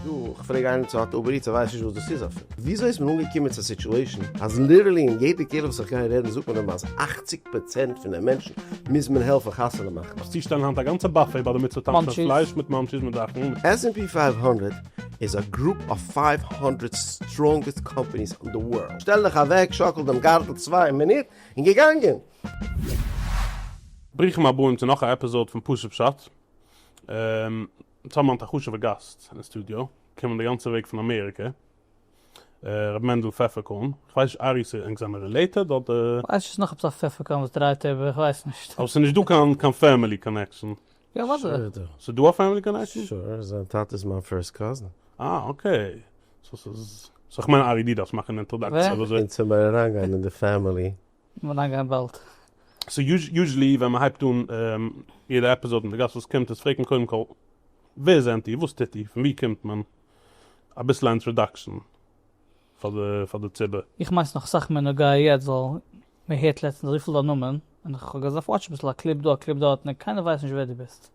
דא, כ'פרעג איינעם צו האט אובער איטס, ער ווייסט נישט וואס דאס איז אפילו. וויאזוי איז מען אנגעקומען צו א סיטואשען אז ליטערלי אין יעדע קהילה וואס איך גיי רעדן זאגט מען אים אז אַכציק פראצענט פון די מענטשן מוז מען העלפן חתונה מאכן? וועסט צושטעלן היינט א גאנצע באפעי ביי די מצוה טאנצן און מאנטשיס. פלייש מיט מאנטשיס מיט זאכן און מיט עס ענד פי פֿינף הונדערט איז א גרופ אוו פֿינף הונדערט סטראנגעסט קאמפעניס און די ווארלד. שטעל דיך אוועק, שאקל דעם גארטל צוויי מינוט, און געגאנגען! ברוכים הבאים צו נאך א עפיזאד פון פשוט פשט. צוזאמען מיט א חשוב'ער גאסט אין די סטודיאו, געקומען די גאנצע וועג פון אמעריקע, ר' מענדל פפערקארן, כ'ווייס נישט ארי צו ענק זעמער רילעיטעד אדער. כ'ווייס נישט, ס'נאך עפעס א פפערקארן וואס דרייט איבער, כ'ווייס נישט. אבער ס'איז נישט דא קיין קיין פעמילי קאנעקשאן. יא אוודאי. שוין איז דא. ס'איז דא א פעמילי קאנעקשאן? שוין, זיין טאטע איז מיין פירסט קאזין. אה אקעי. סאו ס'איז. סאו כ'מיין ארי די דארפסט מאכן אינטראדאקציע ווי אזוי. און צו מער אריינגיין אין די פעמילי מ'וועט אריינגיין באלד. סאו יוזשעלי ווען מ'הייבט אן יעדע עפיזאד מיט די גאסט וואס קומט איז פרעגט מען קודם כל ווער זענט איר? וואס טוט איר? פון ווי קומט מען? אביסל א אינטראדאקשן פאר די פאר די ציבור. איך מיין ס'איז נאך אסאך מער נוגע יעצט ווייל מ'הערט לעצטנס אזויפיל דיין נאמען און איך האב געזאפט וואטשן אביסל א קליפ דא א קליפ דארט און קיינער ווייסט נישט ווער דו ביסט.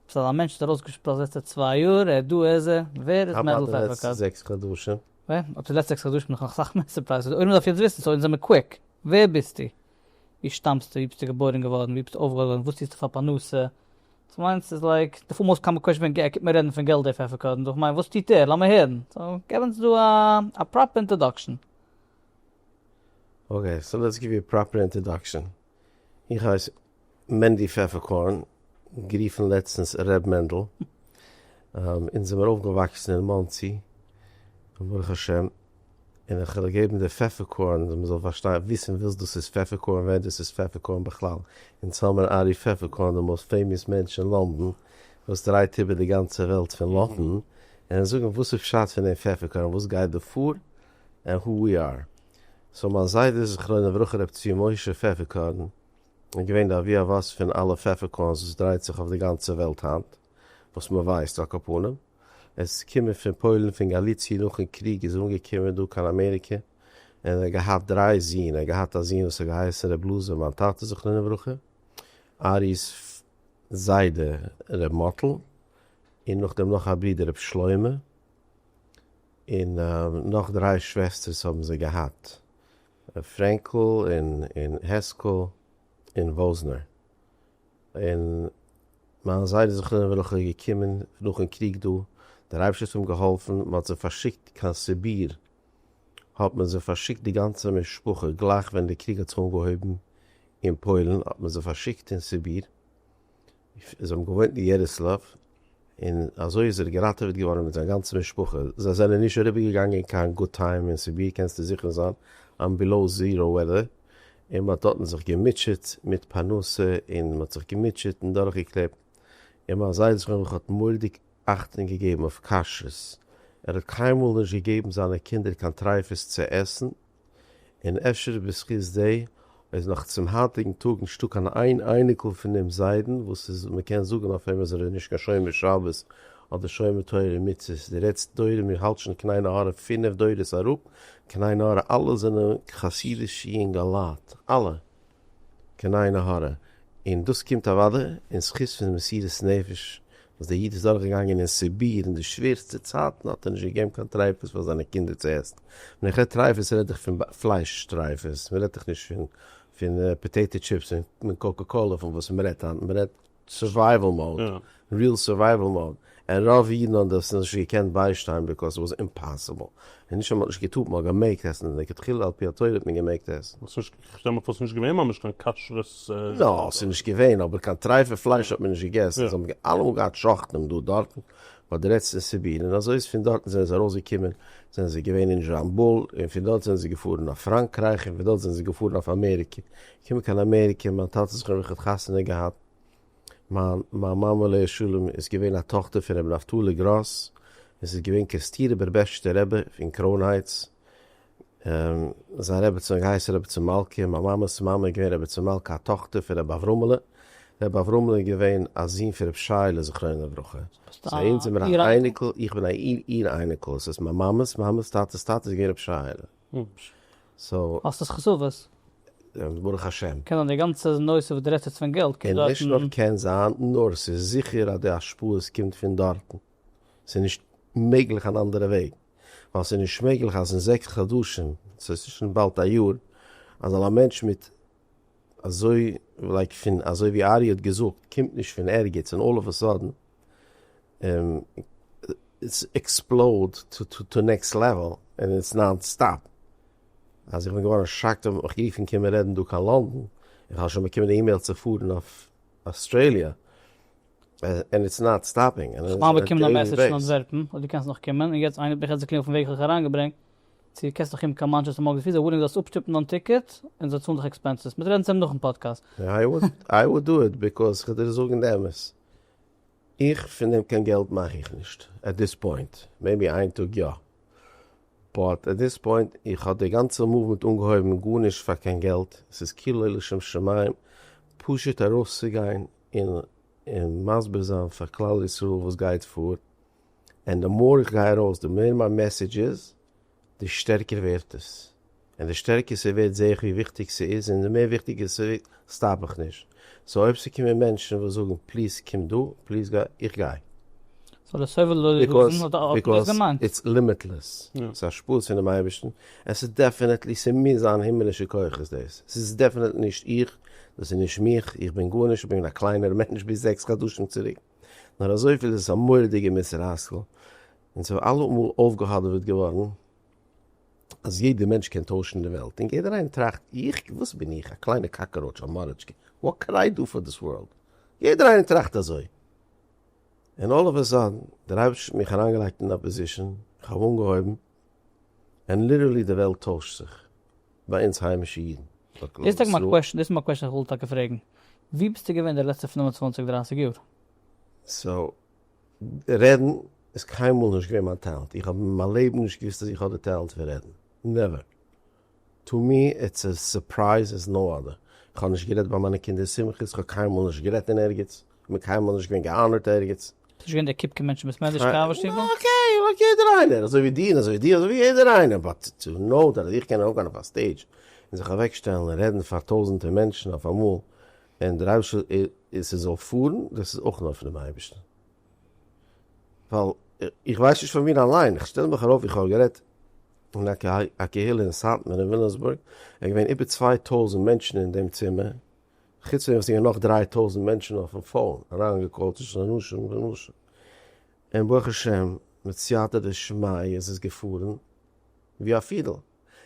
ביסט אזא מענטש וואס איז ארויסגעשפראצט די לעצטע צוויי יאר ער דא ער זע ווער איז מענדל פעפערקארן? ווען? האט די לעצטע זעקס חדשים נאך אסאך מער סורפרייזעס, די עולם דארף יעצט וויסן, סאו אונז זעמיר קוויק, ווער ביסטו? ווי שטאמסטו? ווי ביסטו געבוירן געווארן? ווי ביסטו אויפגעוואקסן? וואס טוסטו פאר פרנסה? דו מיינסט ס'איז לייק די פאר מאסט קאמאן קוועשאן ווען ער קומט מיר רעדן פון געלט דעי פעפער קודם, דאך כ'מיין וואס טוט ער? לאמיר הערן, סאו געב אונז דא א פראפער אינטראדאקשן. אקעי, סאו לעטס גיוו יו א פראפער אינטראדאקשן, איך הייס מענדי פעפערקארן, גערופן לעצטנס ר' מענדל, אונז זעמיר אויפגעוואקסן אין מאנסי, ברוך השם, און איך וועל געבן די פעפערקארן אז מען זאל פארשטיין וויסן וואס דאס איז פעפערקארן ווער דאס איז פעפערקארן בכלל, אונז האמיר ארי פעפערקארן די מאוסט פעימאס מענטש אין לאנדאן וואס דרייט איבער די גאנצע וועלט פון לאטן און זאגן וואס איז פשט פון דעם פעפערקארן וואס גייט דא פאר און הו וויא אר סאו מיין זיידע זכרונו לברכה ר' צבי משה פעפערקארן איז געווען די אבי אבות פון אלע פעפערקארנס וואס דרייט זיך אויף די גאנצע וועלט היינט, וואס מען ווייסט, על כל פנים, עס איז געקומען פון פוילן פון גאליציע נאכן קריג איז ער אנגעקומען דא קיין אמעריקע און ער האט געהאט דריי זין ער האט געהאט א זין וואס האט געהייסן ר' בלאזער מיין טאטע זכרונו לברכה ארי'ס זיידע ר' מאטל און נאכדעם נאך א ברודער ר' שלמה און נאך דריי שוועסטערס האבן זיי געהאט. פרענקל און העסקל און וואזנער און מיינע זיידע זכרונות וועלכע געקומען נאכן קריג דא, דער אייבערשטער האט אים געהאלפן מען האט זיי פארשיקט קיין סיביר האט מען זיי פארשיקט די גאנצע משפחה גלייך ווען די קריג האט זיך אנגעהויבן אין פוילן האט מען זיי פארשיקט אין סיביר זיי האבן געוואוינט אין יעריסלאוו, און אזוי איז ער געראטעוועט געווארן מיט זיין גאנצע משפחה, זיי זענען נישט אריבערגעגאנגען קיין גוד טיים אין סיביר קענסטו זיכער זיין, אן בילאו זיראו וועדער, און מען האט דארטן זיך געמוטשעט מיט פרנסה און מען האט זיך געמוטשעט און דורכגעקלעבט, און מיין זיידע זכרון לברכה האט מורדיג אכטונג געגעבן אויף כשרות, ער האט קיינמאל נישט געגעבן זיינע קינדער קיין טרייפות צו עסן, געשעפט, און אפשר בזכות דעי איז נאך צום היינטיגן טאג נישטא קיין איין אייניקל פון דעם זיידן וואס איז מ'קען זאגן אויף אים אז ער איז נישט קיין שומר שבת אדער שומר תורה ומצוות, די לעצטע דורות מיר האלטשן קניי נהרא פינעף דורות אראפ, קניי נהרא אלע זענען חסידיש יונגעלייט, אלע! קיין עין הרע, און דאס קומט אוודאי אין זכות פון מסירות נפש וואס דער איד איז דורכגעגאנגען אין סיביר אין די שווערסטע צייטן האט ער נישט געגעבן קיין טרייפות פאר זיינע קינדער צו עסן, ווען איך רעד טרייפות רעד איך פון פלייש טרייפות, מען רעדט דאך נישט פון פון פאטעיטא טשיפס און קאקע קאלע פון וואס מען רעדט היינט, מען רעדט. סורווייוועל מאוד, ריעל סורווייוועל מאוד, און רוב אידן האבן דאס נישט געקענט ביישטיין ביקאוז ס'וואס אימפאסיבל, און נישט אז מ'האט נישט געטוט מ'האט געמעגט עסן און לכתחילה על פי התורה האט מען געמעגט עסן. כ'שטעל מיר פאר ס'איז נישט געווען ממש קיין כשר'ס. נא, ס'איז נישט געווען, אבער קיין טרייפע פלייש האט מען נישט געגעסן, זיי האבן אלעמאל געהאט שוחטים דא דארטן, ווייל די רעדסט פון סיביר, און אזוי איז פון דארטן זענען זיי ארויסגעקומען, זענען זיי געווען אין זשאמבול, און פון דארט זענען זיי געפארן אויף פראנקרייך, און פון דארט זענען זיי געפארן אויף אמעריקע, קומען קיין אמעריקע, מיין טאטע זיך האבן לכבוד חתונה געהאט, מיין מיין מאמע עליה השלום איז געווען א טאכטער פון רבי נפתלי גראס, און ס'איז געווען קערסטירער בערבעשטשטער רבי פון קרוינהייטס, זיין רעביצין האט געהייסן רביצין מלכה, מיין מאמע'ס מאמע איז געווען רביצין מלכה א טאכטער פון רבי אברהמ'לע, רבי אברהמ'לע איז געווען א זון פון רבי שייעלע זכרונו לברכה, סאו אונז זעמיר א אייניקל, איך בין א איר איר אייניקל, ס'הייסט מיין מאמע'ס מאמע'ס טאטע'ס טאטע איז געווען רבי שייעלע. ממש. סאו. האסט עס חשוב'ס? ברוך השם. קען זיין די גאנצע נושא וואס דו רעדסט יעצט פון געלט קומט דארטן. נישט נאר קען זיין, נאר ס'איז זיכער אז די השפעות קומט פון דארטן. ס'איז נישט מעגליך אן אנדערע וועג. ווייל ס'איז נישט מעגליך אז אין זעקס חדשים, ס'איז אינצווישן באלד א יאר, אז זאל א מענטש מיט אזוי לייק פון אזוי ווי ארי' האט געזאגט קומט נישט פון ערגעץ און אלל אוו א סאדען. איטס עקספלאוד טו נעקסט לעוועל און איטס נאן סטאפ, אז איך בין געווארן שאקט האבן מיך גערופן קום רעדן דא קיין לאנדאן, איך האב שוין באקומען די אימעיל צו פארן אויף אסטרעליע, און איטס נאט סטאפינג. איך מיין באקומען א מעסעדזש פון אנטווערפן אז דו קענסט נאך קומען, און יעצט איינער האט מיך יעצט געקלינגט פון וועג איך האב דיך אריינגעברענגט, צו קענסט נאך קומען קיין מאנטשעסטער מארגען פיס זיי ווילינג זאלסט אפשטופן דיין טיקעט און זיי צאלן דיך עקספענסעס, מ'וועט רעדן צוזאם נאכן פאדקעסט. איי וואלט דא איט ביקאוז כ'וועל דיר זאגן די אמת. איך פון דעם קיין געלט מאך איך נישט עט דיס פוינט, מעיבי איין טאג יא, באט עט דיס פוינט איך האב די גאנצע מאוומענט אנגעהויבן גארנישט פאר קיין געלט, ס'איז כאילו לשם שמים, פשוט ארויסצוגיין און מסביר זיין פאר כלל ישראל וואס גייט פאר, ענד די מאר איך גיי ארויס די מער מיין מעסעדזש איז. די שטערקער ווערט עס, און די שטערקער ס'ווערט זעה איך ווי וויכטיג ס'איז און די מער וויכטיגער ס'ווערט סטאפ איך נישט, סאו אויב ס'קומען מענטשן וואס זאגן פליז קום דא, פליז גיי, איך גיי. סאו די סבל לויט די גאסן האט דאס געמיינט? ביזקאז איטס לימיטלעס, ס'איז א שפאס פונעם אייבערשטן, עס איז דעפענעטלי, ס'מוז זיין הימעלישע כוחות דאס, ס'איז דעפענעטלי נישט איך, דאס איז נישט מיך, איך בין גארנישט, איך בין געווען א קליינער מענטש ביז זעקס חדשים צוריק, נאר אזויפיל איז עס א מורא'דיגע מוסר השכל, און ס'איז אלעמאל אויפגעהאדעוועט געווארן אז יעדער מענטש קען טוישן די וועלט, און יעדער איינער טראכט, איך? וואס בין איך? א קליינע קאקעראוטש, א מארעטשקע, וואט קען איי דא פאר דיס ווארלד? יעדער איינער טראכט אזוי. און אלל אוו א סאדען, דער אייבערשטער האט מיך אריינגעלייגט אין א פאזישאן, איך האב אנגעהויבן, און ליטערלי די וועלט טוישט זיך, ביי אונז היימישע אידן, ביי כלל ישראל. דאס איז טאקע מיין קוועשאן, דאס איז מיין קוועשאן איך וויל טאקע פרעגן, ווי ביסטו געווען די לעצטע פינף און צוואנציג דרייסיג יאר? סאו, רעדן איז קיינמאל נישט געווען מיין טעלענט, איך האב אין מיין לעבן נישט געוואוסט אז איך האב די טעלענט פון רעדן, נעווער, טו מי איטס א סורפרייז עז נאו אדער, איך האב נישט גערעדט ביי מיינע קינדער שמחות, איך האב קיינמאל נישט גערעדט אין ערגעץ, איך בין קיינמאל נישט געווען געאנערט ערגעץ. ביסט נישט געווען דער קופקע מענטש אין בית מדרש קאווע שטיבל? אה אקעי, לייק יעדער איינער, אזוי ווי דיר און אזוי ווי דיר אזוי ווי יעדער איינער, באט טו נאו דעט אז איך קען ארויפגיין אויף א סטעידזש און זיך אוועקשטעלן און רעדן פאר טויזענטער מענטשן אויף אמאל, און דער אייבערשטער איז ס'זאל פארן, דאס איז אויך נאר פון דעם אייבערשטן, ווייל איך ווייס נישט פון מיר אליין, איך שטעל מיך ארויף, איך האב גערעדט אין א קהילה אין סאטמאר אין וויליאמסבורג, עס איז געווען איבער צוויי טויזנט מענטשן אין דעם צימער, חוץ פון דעם וואס ס'איז געווען נאך דריי טויזנט מענטשן אויפן פאון אריינגעקאלט צווישן אנשים ונשים, און ברוך השם מיט סייעתא דשמיא איז עס געפארן ווי א פידל,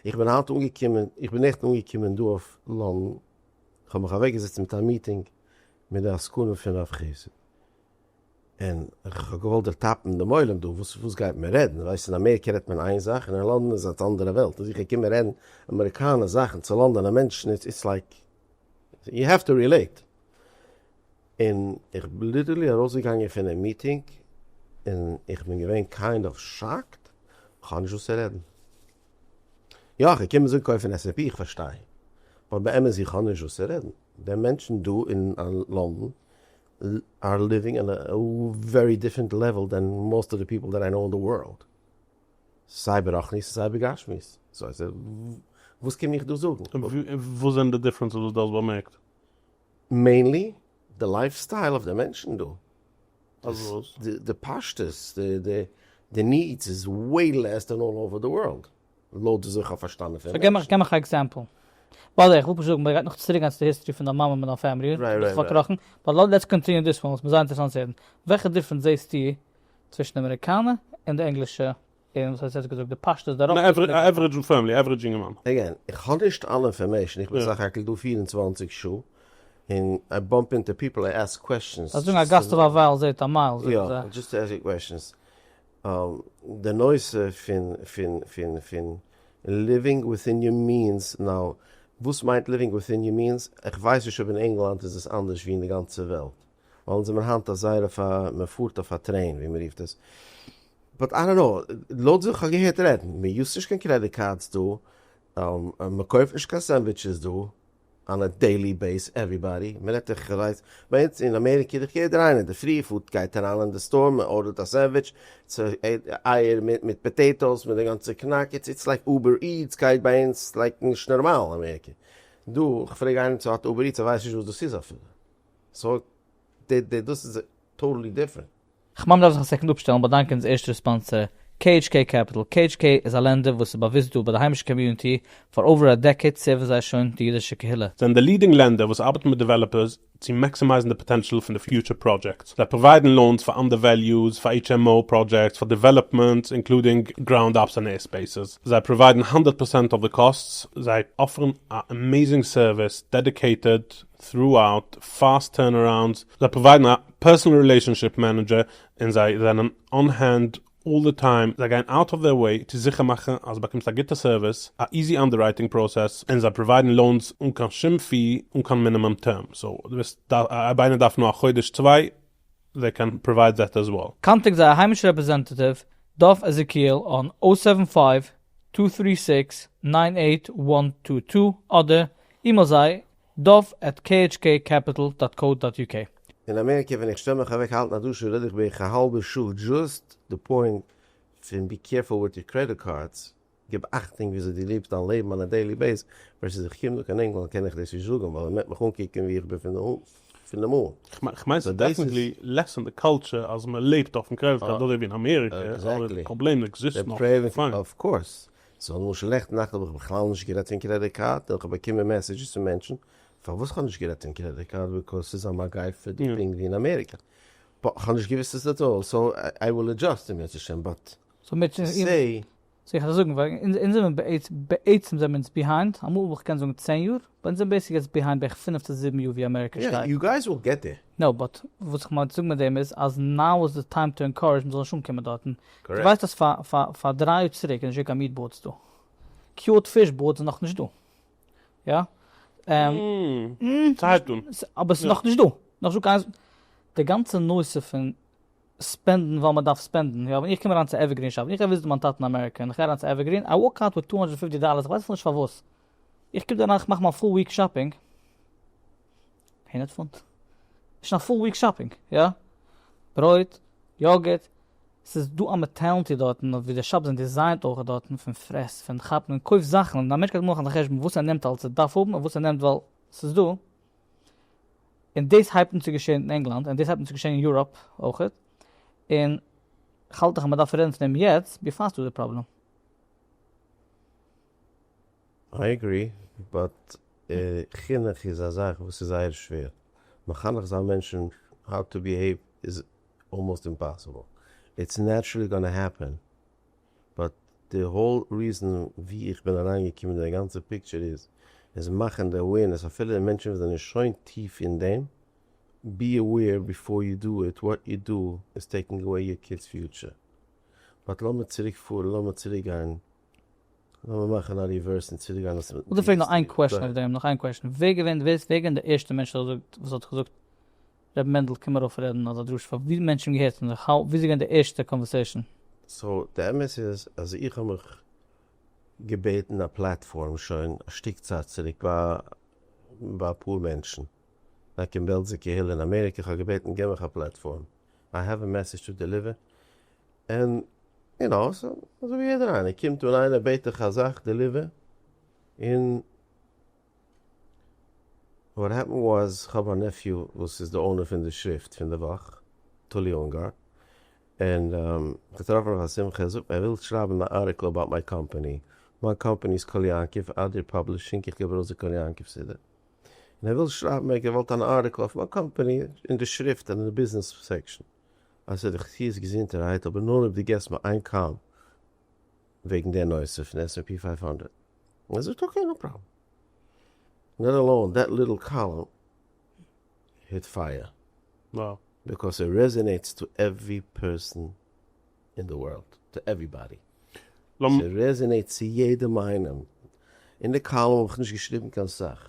איך בין היינט אנגעקומען, איך בין נעכטן אנגעקומען דא אויף לאנדאן, כ'האב מיך אוועקגעזעצט מיט א מיטינג מיט די עסקנים פון רב חסד, און כ'האב געוואלט דערטאפן דעם עולם דא, וואס וואס גייט מען רעדן? ווייסט אין אמעריקע רעדט מען איין זאך און אין לאנדאן איז א אנדערע וועלט, און זיך געקומען רעדן אמעריקאנע זאכן צו לאנדאנע מענטשן איז איטס לייק יו העוו טו רילעיט, און איך בין ליטערלי ארויסגעגאנגען פונעם מיטינג און איך בין געווען קיינד אוו שאקד, כ'האב נישט וואס צו רעדן. יא, כ'קום עס אנקויפן עס עפ פי, כ'פארשטיי. אבער באמת איך האב נישט וואס צו רעדן. די מענטשן דא אין לאנדן אר ליווינג אן א ווערי דיפרענט לעוועל דען מאוסט אוו די פיפל דעט איי קנאו אין די ווארלד. סיי ברחנית און סיי בגשמיות. סאו וואס קום איך דא זאגן? און וואס זענען די דיפרענסעס וואס דו האסט באמערקט? מעינלי די לייף סטייל אויף די מענטשן דא, די פשטות, די נידס איז וועי לעס דען אלל אווער די ווארלד, לויט וואס איך האב פארשטאנען פון מענטשן. סאו געב מיך א עקזעמפל. ביי די וועי, איך וויל פשוט זאגן, מ'גייט נאך צוריק גיין צו די היסטארי פון דיין מאמע מיט דיין פעמילי, ביסט פארקראכן, באט לעטס קאנטיניו דיס וואן, עס איז מיר זייער אינטערעסאנט צו הערן, וועלכע דיפרענץ זעסטו צווישן די אמעריקאנע און די ענגלישע און ס'האט יעצט געזאגט די פשטות דערויף. א עוורידזש פעמילי, א עוורידזש יונגערמאן. עגעין, איך האב נישט אלע אינפארמעישן, איך בין סך הכל דא פֿיר און צוואַנציק שעה, און איי באמפ אינטו פיפל, איי עסק קוועשטשענס. זיי זאגן א גאסט אויף א ווייל זעהט א מייל, זאגן זיי. יא, דזשאסט טו עסק קוועשטשענס. די נושא פון פון פון פון ליווינג וויטין יור מיענס, נאו, וואס מיינט ליווינג וויטין יור מיענס? איך ווייס נישט אויב אין ענגלאנד איז עס אנדערש ווי אין די גאנצע וועלט. וואלן זעמער היינט א זייער אויף א מען פארט אויף א טרעין ווי מען רופט עס באט איי דאנט נאו לויט ווי כ'האב געהערט רעדן מען יוזט נישט קיין קרעדיט קארדס דא מען קויפט נישט קיין סענדוויטשעס דא אן א דעילי בעיס עוועריבאדי מען רעדט איך ווייס ביי אונז אין אמעריקע איז דאך יעדער איינער אינדערפרי פארט גייט אריין אין די סטאר מען ארדערט א סענדוויטש אייער מיט פאטעיטאס מיט די גאנצע קנאק איטס איטס לייק אובער איטס גייט ביי אונז לייק נישט נארמאל אמעריקע דא כ'פרעג איינעם צו האט אובער איטס ער ווייסט נישט וואס דאס איז אפילו סאו די די דאס איז טאטעלי דיפרענט. כ'מיין מ'דארף זיך א סעקונד אפשטעלן באדאנקען אונז ערשטע רעספאנסער KHK Capital, KHK איז א לענדער וואס איז באוויסט דא ביי די היימישע קאמיוניטי, פאר אווער א דעקעיד סערווען זיי שוין די אידישע קהילה. זענען די לידינג לענדער וואס ארבעטן מיט דעוועלאפערס צו מעקסימייזן די פאטענשעל פון די פיוטשער פראדזשעקטס. זיי פראוויידן לאונס פאר אנדערוועליוס, פאר HMO פראדזשעקטס, פאר דעוועלאפמענטס אינקלודינג גראונד אפס און עירספעיסעס. זיי פראוויידן האנדערט פערסענט אוו די קאסטס. זיי אפערן א עמעזינג סערוויס דעדיקעיטעד throughout fast turnarounds, זיי פראוויידן א פערסאנעל רילעישאנשיפ מענעדזשער און זיי זענען אן הענד אלל די טיים, זיי גייען אוט אוו דעיר וועי צו זיכער מאכן אז באקומסט א גוטע סערוויס, א איזי אנדעררייטינג פראסעס, און זיי פראוויידן לאונס אן קיין שום פי אן קיין מינימום טערם, סאו דו ביסט אויב איינער דארף נאר א חודש צוויי זיי קען פראווייד דעט עז וועל. קאנטעקט זייער היימישע רעפרעזענטעטיוו דוב עזעקיעל אן אויט סעווען פייוו טו טרי סיקס ניין עיט וואן טו טו אדער אימעיל זיי דוב עט khk קעפיטל דאט קאו דאט יו קעי. אין אמעריקע ווען איך שטעל מיך אוועק האלטן א דרשה רעד איך בערך א האלבע שעה דזשאסט די פוינט פון בי קערפול וויט יור קרעדיט קארדס, גיב אכטונג וויאזוי דו לעבסט דיין לעבן אן א דעילי בעיס ווערסעס איך קום דא קיין ענגלאנד קען איך דאס נישט זאגן ווייל מען וועט מיך אנקוקן ווי איך בין פון די מאל. איך מיין ס'איז דעפענטלי לעס אין די קאלטשער אז מ'לעבט אויפן קרעדיט קארד אדער ווי אין אמעריקע אבער די פראבלעם עקזיסט נאך פיין. סאו למשל לעכט נאכט האב איך בכלל נישט גערעדט פון קרעדיט קארד און כ'האב באקומען מעסעדזשעס פון מענטשן פארוואס כ'האב נישט גערעדט פון קרעדיט קארד ביקאוז ס'איז א מגיפה דא פונקט ווי אין אמעריקא בו כ'האב נישט געוויסט עס עט אלל סאו איי וויל עדזשאסט אם ירצה השם באט סאו מיר צו סעי. סאו איך וועל זאגן ווייל אונז זעמיר בעצם זעמיר אונז ביהיינד אמאל וואלט איך געקענט זאגן צען יאר באט אונז זעמיר בעיסיקלי יעצט ביהיינד בערך פינף צו זיבן יאר ווי אמעריקא שטייט. יא יו גייס וויל געט דעיר. נאו באט וואס איך מיין צו זאגן מיט דעם איז אז נאו איז די טיים טו ענקארעדזש מ'זאל נישט אנקומען דארטן דו ווייסט אז פאר דריי יאר צוריק איז נישט געווען קיין מיעט בארדס דא? קיוט פיש בארדס איז נאכנישט דא. יא. אבער ס'איז נאכנישט דא. נאכנישט דא קיין. די גאנצע נושא פון ספענדן ווייל מ'דארף ספענדן. יא, ווען איך קום אריין צו עווערגרין שאפ, ווען איך גיי וויזיטן מיין טאטן אין אמעריקע און איך גיי אריין צו עווערגרין, איי וואלק אוט וויט טו הונדרעט און פופטי דאלערס, איך ווייס אפילו נישט פארוואס. איך קום דא אריין איך מאך מיין פול וויק שאפינג. אין עד פאנט. נישט קיין פול וויק שאפינג, יא? ברויט, יאגערט, ס'איז דא א מעטעלנטי דארטן ווי די שאפס זענען דיזיינט אויך דארטן פון פרעס, פון כאפן און קויף זאכן און א מענטש גייט מאכן א חשבון וואס ער נעמט אלס ער דארף האבן און וואס ער נעמט ווייל ס'איז דא. און דאס הייבט אן צו געשען אין ענגלאנד און דאס הייבט אן צו געשען אין יוראפ אויך. און כ'האלט דאך אז מ'דארף רעדן פון דעם יעצט ביפאר ס'איז דא די פראבלעם. איי עגרי, באט חינוך איז א זאך וואס איז זייער שווער, מחנך זיין מענטשן האו טו ביהעיוו איז אלמאסט אימפאסיבל, איטס נעטשרעלי גאנא העפען, באט די האול ריזען ווי איך בין אריין געקומען אין די גאנצע פיקטשער איז, איז מאכן די אווערנעס אפילו מענטשן וואס זענען שוין טיף אין דעם, בי אוועיר ביפאר יו דא איט, וואט יו דא איז טעיקינג אוועי יור קידס פיוטשער. באט לאמיר צוריק פארן, לאמיר צוריק גיין. לאמיר מאכן א ריווערס און צוריק גיין וואס. כ'וויל פרעגן נאך איין קוועשן אויף דעם, נאך איין קוועשן, ווער געווען ווער איז ווער געווען די ערשטע מענטש וואס האט וואס האט געזאגט ר' מענדל קום ארויף רעדן אדער דרשה פאר ווי מענטשן האבן געהערט און זיך האו ווי איז געווען די ערשטע קאנווערסעישן? סאו די אמת איז אז איך האב מיך געבעטן א פלאטפארם שוין א שטיק צייט צוריק ביי ביי אפאר מענטשן לייק אין בעלזע קהילה אין אמעריקע, כ'האב געבעטן גיב מיך א פלאטפארם, איי העוו א מעסעדזש טו דעליווער, און יו נאו, סא אזוי ווי יעדער איינער קומט אן איינער בעט דיך א זאך דעליווער, און וואט העפענד וואס כ'האב א נעפיו וואס איז די אונער פון די שריפט פון די וואך, תולי אונגאר, און כ'טרעף אים אויף א שמחה, ער זאגט מיר ער וויל שרייבן א ארטיקל אבאוט מיי קאמפעני, מיין קאמפעני איז קול יעקב אדיר פאבלישינג, איך געב ארויס די קול יעקב סידי, און ער וויל שרייבן ער האט געוואלט אן ארטיקל אויף מיין קאמפעני אין די שריפט אין די ביזנעס סעקשאן. אז ס'איז די חסיד'ס געזונטערהייט אבער נאר אויב דו געסט מיר איין קאל וועגן די נושא פון עס ענד פי פייוו הונדערט. און ער זאגט אקעי נאו פראבלעם. לעט אלאון דעט ליטל קאלום היט פייער. וואו. ביקאוס איט רעזענעיטס טו עווערי פערסאן אין די ווארלד. טו עוועריבאדי. ס'רעזענעיטס צו יעדעם איינעם. אין די קאלום האב איך נישט געשריבן קיין סאך.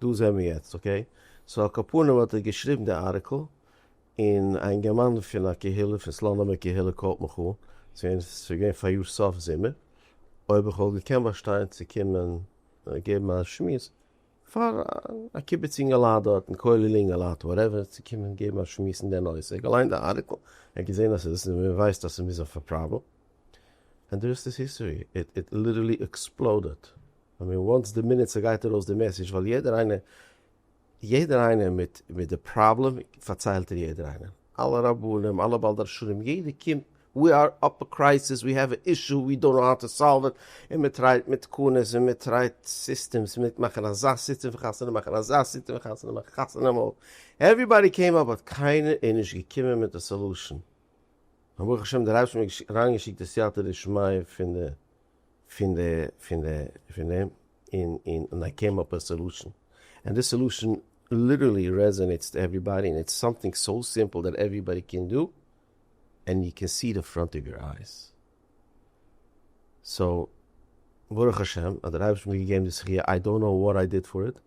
דא זעמער יעצט אקעי. סאו על כל פנים האט ער געשריבן די ארטיקל, און א אינגערמאן פון א קהילה פון סלאנימער קהילה קאלט מיך אן צו אונז, עס איז געווען פאריאר סוף זומער, אויב איך וואלט געקענט באשטיין צו קומען געבן א שמועס פאר א קיבוץ אינגעלייט דארטן, כולל אינגעלייט וואטעווער, צו קומען געבן א שמועס אין די נושא, ער האט געליינט די ארטיקל, ער האט געזען אז עס איז און ער ווייסט אז עס מוז זיין פאר פראבלעם, ענד די רעסט איז היסטערי, איט ליטערלי עקספלאודעד. איך מיין וואנס די מינוט ס'גייט ארויס די מעסעדזש וועל יעדער איינער יעדער איינער מיט מיט די פראבלעם פארציילט ער יעדער איינער אלע רבנים אלע בעל דרשנים יעדער קומט ווי אר אפ א קרייסיס ווי העוו א אישו ווי דאנט נאו האו טו סאלוו איט און מען טרייט מיט תקנות און מען טרייט סיסטעמס מיט מאכן אזא סיסטעם פון חתונה מאכן אזא סיסטעם פון חתונה מאכן חתונה מאל עווריבאדי קעים אפ באט קיינער איז נישט געקומען מיט א סאלושען און ברוך השם דער אייבערשטער האט מיר אריינגעשיקט די סייעתא דשמיא פון די פון די פון די פון דעם און און און איי קעים אפ א סעלושען ענד דיס סעלושען ליטערלי רעזענעיטס טו עוועריבאדי און איטס סאמטינג סאו סימפל דעט עוועריבאדי קען דו ענד יו קען סי די פראנט אוו יור אייס סאו ברוך השם אז דער אייבערשטער האט מיר געגעבן די זכיה איי דאנט נאו וואט איי דיד פאר איט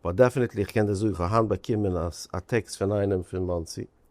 באט דעפענעטלי איך קען דיר זאגן איך האב היינט באקומען א טעקסט פון איינעם פון מאנסי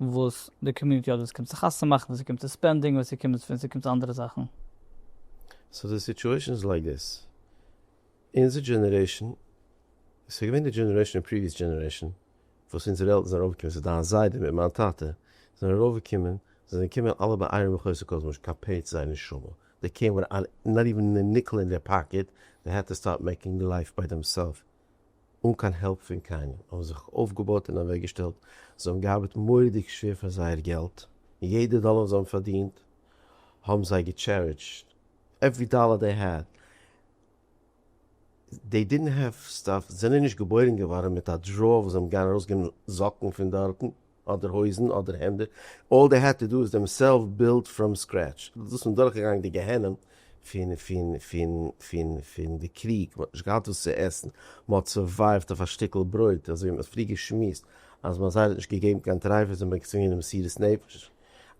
וואס די קאמיוניטי האט ווען ס'קומט צו חתונה מאכן ווען ס'קומט צו ספענדינג ווען ס'קומט ווען ס'קומט צו אנדערע זאכן. סאו די סיטועשן איז לייק דיס, אונזער דזשענערעישן, ס'איז געווען די דזשענערעישן און פריוויעס דזשענערעישן וואס אונזערע עלטערן זענען ארויפגעקומען, ס'איז דיין זיידע מיט מיין טאטע זענען ארויפגעקומען, זיי זענען געקומען אלע ביי אייראן מחוסר כל זמן שכפית זיי נשמה, די קעיר וויט נאט איווען א ניקל אין דער פאקעט, די העד טו סטארט מעקינג לייף ביי דעם סעלף אן קיין העלפ פון קיינעם, האבן זיך אויפגעבויט און אוועקגעשטעלט, זיי האבן געארבעט מורא'דיג שווער פאר זייער געלט, און יעדע דאלער וואס זיי האבן פארדינט האבן זיי געטשערידזשט, עוורי דאלער דעי העד, דעי דידנט העוו סטאף, זיי זענען נישט געבוירן געווארן מיט א דראוער וואס זיי האבן געגאנגען ארויסגעבן זאקן פון דארטן. אדער הויזן אדער העמדער, אלל דעי העד טו דא איז דעם סעלף בילד פראם סקרעטש, דאס און דורכגעגאנגען די גיהנום פון פון פון פון פון די קריג, מען האט נישט געהאט וואס צו עסן, מען האט סורווייווט אויף א שטיקל ברויט, אזוי ווי מען האט פריער געשמועסט אז מען האט זייער נישט געגעבן קיין טרייפות און מען האט געצווינגען די מסירות נפש,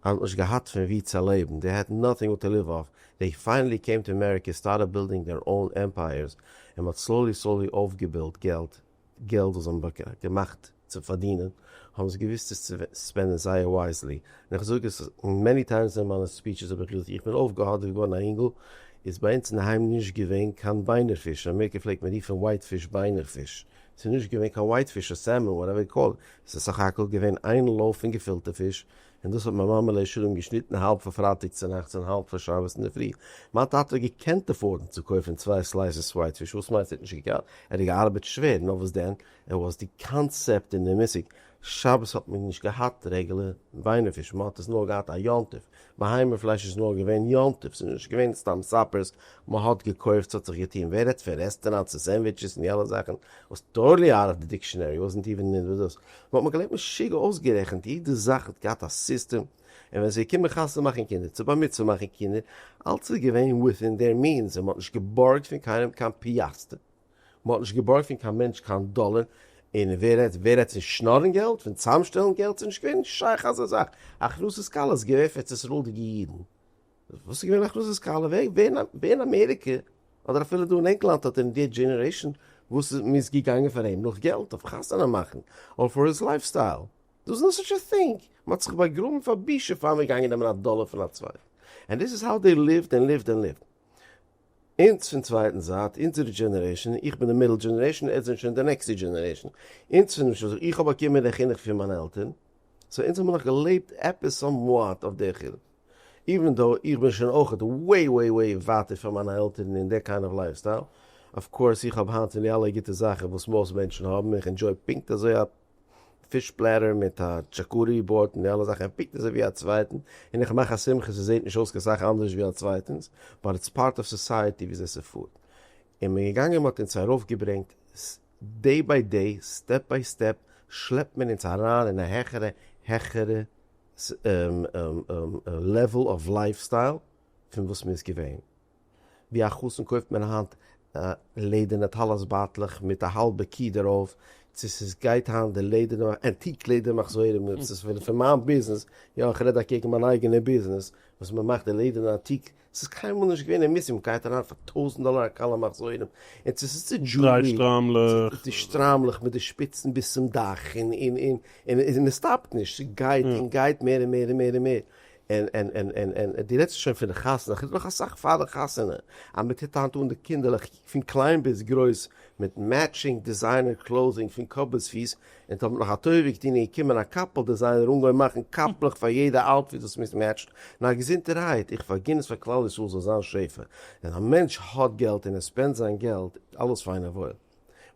אז מען האט נישט געהאט פון ווי צו לעבן, דעי העד נאטינג וואט טו ליוו אויף, דעי פיינעלי קעים טו אמעריקע, סטארטעד בילדינג דער אוין עמפייערס, און מען האט סלאולי סלאולי אויפגעבילט געלט, געלט וואס זיי האבן געמאכט צו פארדינען האבן זיי געוואוסט עס צו ספענדען זייער ווייזלי, און איך זאג עס מעני טיימס אין מיינע ספיטשעס האב איך געזאגט איך בין אויפגעהאדעוועט געווארן א אינגל איז ביי אונז אינדערהיים נישט געווען קיין ביינער פיש, אין אמעריקע פלעגט מען רופן ווייט פיש ביינער פיש, עס איז נישט געווען קיין ווייט פיש אר סעלמאן וואטעווער יו קאל איט, עס איז סך הכל געווען איין לויף פון געפילטע פיש און דאס האט מיין מאמע לאה שלום געשניטן האלב פון פרייטאג צונאכטס און האלב פון שבת אינדערפרי. מיין טאטע האט געקענט אפארדן צו קויפן צוויי סלייסעס ווייט פיש, וואס מיינסטו ער האט נישט געקענט? ער האט געארבעט שווער, נאר וואס דען, ער וואס די קאנצעפט און די מושג, שבת האט מען נישט געהאט רעגולער וויינער פיש, מען האט עס נאר געהאט א יום טוב, בהמה פלייש איז נאר געווען יום טוב, ס'איז נישט געווען סתם סאפערס, מען האט געקויפט, ס'האט זיך געטון, ווער רעדט פון רעסטעראנטס און סענדוויטשעס און די אלע זאכן וואס טארלי אאוט אוו די דיקשענערי, וואס זענט איר וואס דאס? מ'האט מיר געלערנט משוגע אויסגערעכנט, יעדע זאך האט געהאט א סיסטעם, און ווען ס'איז געקומען חתונה מאכן קינדער, צו בר מצוה מאכן קינדער, אלץ איז געווען וויטין דער מינס, און מ'האט נישט געבארגט פון קיינעם קיין פיאסטער, מ'האט נישט געבארגט פון קיין מענטש קיין דאלער, און ווער רעדט ווער רעדט פון שנארן געלט, פון צאמשטעלן געלט, ס'איז נישט געווען שייך אזא זאך, הכנסות כלות איז געווען פאר ארץ ישראל'דיגע אידן, וואס איז געווען הכנסת כלה? ווער אין אמעריקע אדער אפילו דא אין ענגלאנד האט אין די דזשענערעישאן וואס מ'איז געגאנגען פאר אים נאך געלט אויף חתונה מאכן אר פאר היז לייף סטייל? דאס איז נאט סאטש א טינג! מ'האט זיך באגראבן פאר בושה פאר מ'איז געגאנגען נעמען א דאלער פון א צווייטן. ענד דיס איז האו דעי ליווט ענד ליווט ענד ליווט. אונז פון צווייטן זייט, אונזערע דזשענערעישאן, איך בין די מידל דזשענערעישאן, אונז זענען שוין די נעקסטע דזשענערעישאן, אונז פון למשל איך האב באקומען די חינוך פון מיינע עלטערן, סאו אונז האבן נאך געלעבט עפעס סאמוואט אויף די חינוך, איווען דאו איך בין שוין אויכעט וועי וועי וועי ווייטער פון מיינע עלטערן אין די קיין אוו לייף סטייל, אויף קאורס איך האב היינט פון די אלע גוטע זאכן וואס מאסט מענטשן האבן, איך ענדזשוי פונקט אזוי א. פיש פלעטער מיט א טשאקארי בארד און די אלע זאכן ער פיקט אזוי ווי א צווייטן און איך מאך א שמחה ס'זעהט נישט אויס קיין סאך אנדערש ווי א צווייטענס באט איטס פארט אוו סאסייעטי וויאזוי ס'פארט און מען געגאנגען מען האט אונז ארויף געברענגט דעי ביי דעי סטעפ ביי סטעפ שלעפט מען אונז אריין אין א העכערע העכערע לעוועל אוו לייף סטייל פון וואס מען איז געווען. ווי א חתן קויפט מען היינט לעדערנע טלית בייטלעך מיט א האלבע קי דערויף, צו ס'איז גייט היינט די לעדערנע ענטיק לעדער מחזורים, און ס'איז פון פון מיין ביזנעס, יא איך רעד אקעגן מיין אייגענע ביזנעס, וואס מען מאכט די לעדערנע ענטיק, ס'איז קיינמאל נישט געווען אין מוזיום גייט אריין פאר טויזנט דאלער א קאלע מחזורים, און צו ס'איז די דזשולערי, די שטריימלעך מיט די שפיצן ביז צום דאך, און און און און און עס סטאפט נישט, ס'גייט און גייט מער און מער און מער און מער, און און און און און דו רעדסט שוין פון די חתונה, כ'רעד נאך אסאך פאר די חתונה, אז מען טוט היינט אן די קינדערלעך פון קליין ביז גרויס מיט מעטשינג דיזיינער קלאוזינג פון קאפ ביז פיס, און טאמער נאך א טובה געטון און געקומען א קאפל דיזיינער און געווען מאכן קאפלעך פאר יעדע אוטפיט וואס מיס מעטשט, נאר געזונטערהייט, איך פארגין עס פאר כלל ישראל זאל זיין שפע, ווען א מענטש האט געלט און ער ספענד זיין געלט, אלעס פיין און וואויל.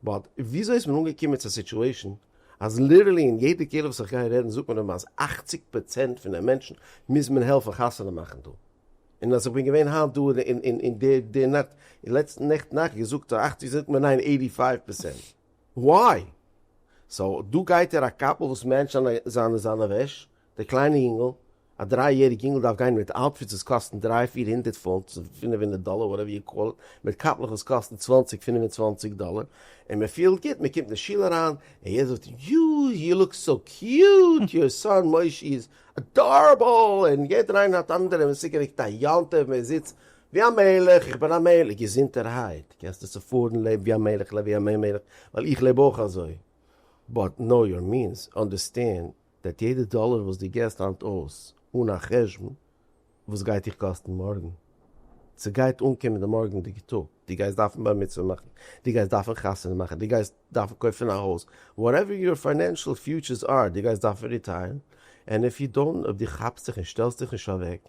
באט וויאזוי איז מען אנגעקומען צו א סיטואשען אז ליטערלי אין יעדע קהילה וואס איך גיי רעדן זאגט מען אים אז אַכציק פראצענט פון די מענטשן מוז מען העלפן חתונה מאכן דא, און אז איך בין געווען היינט דא און די נאכט און לעצטן נעכטן נאכט געזאגט אז אַכציק זאגט מען ניין עיטי פייוו פערסענט וויי? סאו דא גייט ער א קאפל וואס מענטשט זיינע זיינע וועש דער קליינער יונגל, א דריי יעריג יונגל דארף גיין מיט אוטפיטס וואס קאסטן דריי פיר הונדערט פונט, פינף הונדערט דאלער וואטעווער יו קאל איט, מיט קאפלעך וואס קאסטן צוואנציג פינף און צוואנציג דאלער, און מען פילט גוט, מען קומט אין שול אריין, און יעדער זאגט יואו יו לוק סאו קיוט, יור סאן מושי איז אדארעבל, און יעדער איינער האט אנדערע מושגים וועגן א יום טוב, מען זיצט ווי א מלך, איך בין א מלך, געזונטערהייט, קענסטו צופארן, לעב ווי א מלך, לעב ווי א מלך, ווייל איך לעב אויך אזוי, באט נאו יור מינס, אנדערסטענד. וועט יעדע דאלער וואס דו געסט היינט אויס אן א חשבון, וואס גייט דיך קאסטן מארגן? ס'גייט אנקומען די מארגענדיגע טאג, דו גייסט דארפן בר מצוה מאכן, דו גייסט דארפן חתונה מאכן, דו גייסט דארפן קויפן א הויז, וואטעווער יור פיינענשעל פיוטשערס אר, דו גייסט דארפן ריטייערן, ענד איף יו דאונט, אויב דו כאפסט זיך און שטעלסט דיך נישט אוועק,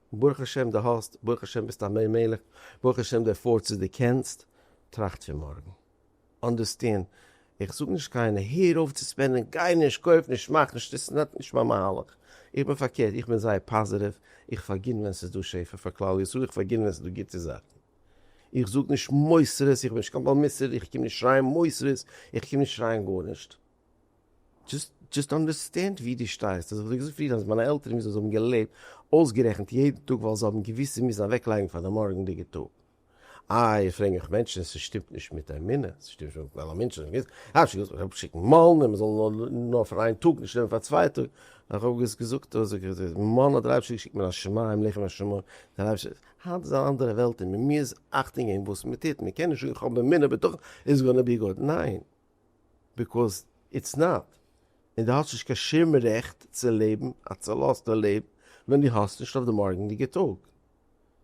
ברוך השם די האסט, ברוך השם ביסט א מי מלך, ברוך השם די פארסט צו די קענסט, טראכט פון מארגן, אנדערסטענד, איך זאג נישט קיינער הער אויף צו ספענדען, גיי נישט, קויף נישט, מאך נישט, דאס איז נאט נישט מיין מהלך, איך בין פארקערט, איך בין זייער פאזעטיוו, איך פארגין ווען ס'איז דא שפע פאר כלל ישראל, איך פארגין ווען ס'איז דא גוטע זאכן, איך זאג נישט מוסרות, איך בין נישט קיין בעל מוסר, איך קום נישט שרייען מוסרות, איך קום נישט שרייען גארנישט. דזשאסט אנדערסטענד ווי דו שטייסט, אזויווי איך זאג פריער אז מיינע עלטערן מוזן זיי האבן געלעבט אויסגערעכנט יעדן טאג ווייל זיי האבן געוואוסט זיי מוזן אוועקלייגן פאר די מארגענדיגע טאג. איי פרעג מיך מענטשן עס שטימט נישט מיט אמונה, עס שטימט שוין מיט מיין אמונה שוין געווען, איך האב שוין געזאגט איך וועל שיקן מאלן און מען זאל נאר פאר איין טאג נישט נעמען פאר צוויי טאג, איך האב עס געזאגט דא זאג איך דא, מאלן האט דער אייבערשטער געשיקט מן השמים לחם השמים, דער אייבערשטער, היינט איז אן אנדערע וועלט און מען מוז אכטונג געבן וואס מען טוט, מען קען נישט זאגן איך האב אמונה בטחון איטס גאנא בי גוד, ניין. ביקאוז איטס נאט, און דו האסט נישט קיין שום רעכט צו לעבן א צולאזטע לעבן ווען דו האסט נישט אויף די מארגענדיגע טאג.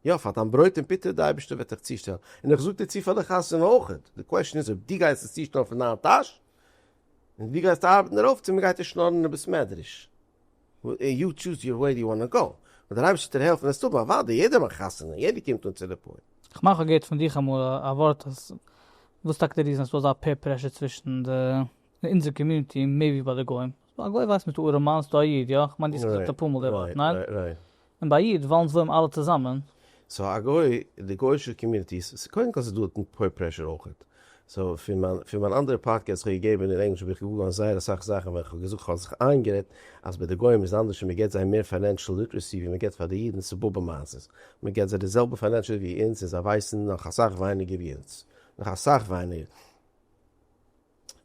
יא, פאר דיין ברויט און פיטער, די אייבערשטער וועט דיך צושטעלן, און איך זאג דיר צו פאר די חתונה אויך, די קוועשן איז אויב דו גייסט עס צושטעלן פון דיין טאש, און דו גייסט ארבעטן דערויף, צו מען גייט דיר שנארן אין די בית מדרש. און יו טשוז יור וועי יו וואנא גאו, וועט דער אייבערשטער דיר העלפן עס האבן, אוודאי, יעדער מאכט חתונה, יעדער קומט אן צו די פורים. איך מיין כ'האב געהערט פון דיך אמאל א ווארט אז וואס טאקע די ריזן אז ס'דא אזא פעיר פרעשור צווישן די אין אונזער קאמיוניטי מער ווי ביי די גוים? א גוי ווייסט מיט א ארעמאן ס'דא א איד יא? כ'מיין די האסט געזאגט אפאר מאל די ווארט ניין? און ביי איד וואלן זוים אלע צוזאמען. סאו א גוי, די גוישע קאמיוניטי, סאו קודם כל ס'איז דא אונטן פעיר פרעשור אויכעט, סאו פון מיין פון מיין אנדערע פאדקעסט וואס איך האב געגעבען אין ענגליש האב איך געגאן זייער אסאך זאכען ווען איך האב געזאגט כ'האב זיך איינגערעדט אז ביי די גוים איז אנדערש און מען געבט זיי מער פיינענשעל ליטרעסי ווי מען געבט פאר די אידן ס'איז באבע מעשה'ס, מען געבט זיי די זעלבע פיינענשעל ווי אונז און זיי ווייסען נאך אסאך ווייניגער ווי אונז, נאך אסאך ווייניגער.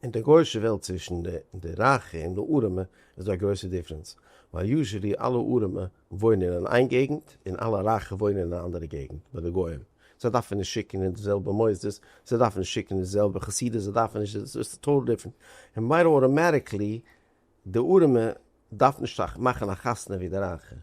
אין די גוישע וועלט צווישן די רייכע און די ארעמע איז דא א גרויסע דיפרענס, ווייל יוזשעלי אלע ארעמע וואוינען אין איין געגנט און אלע רייכע וואוינען אין א אנדערע געגנט ביי די גוים, זיי דארפן נישט שיקן אין די זעלבע מוסדות, זיי דארפן נישט שיקן אין די זעלבע חסידות, זיי דארפן נישט דאס, ס'איז טאטאל דיפרענט, און מיידע אוטאמעטיקלי די ארעמע דארפן נישט מאכן א חתונה ווי די רייכע.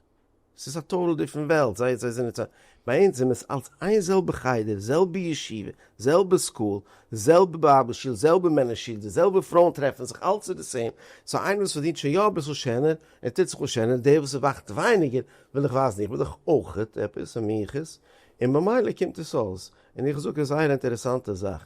ס'איז א טאטעל דיפרענט וועלט, זיי זיי זענען צו, ביי אונז זענען מ'איז אלס איין זעלבע חדר, זעלבע ישיבה, זעלבע סקול, זעלבע בייבל שול, זעלבע מענער שול, די זעלבע פרויען טרעפן זיך, אלס איז די סעים, סאו איינער וואס פארדינט שוין יא אביסל שענער, ער טוט זיך אן שענער, דער וואס ערווארט ווייניגער וויל איך ווייזן איך בין דאך אויכעט עפעס א מיחוס, און במילא קומט עס אויס, און איך זאג עס זייער א אינטערעסאנטע זאך,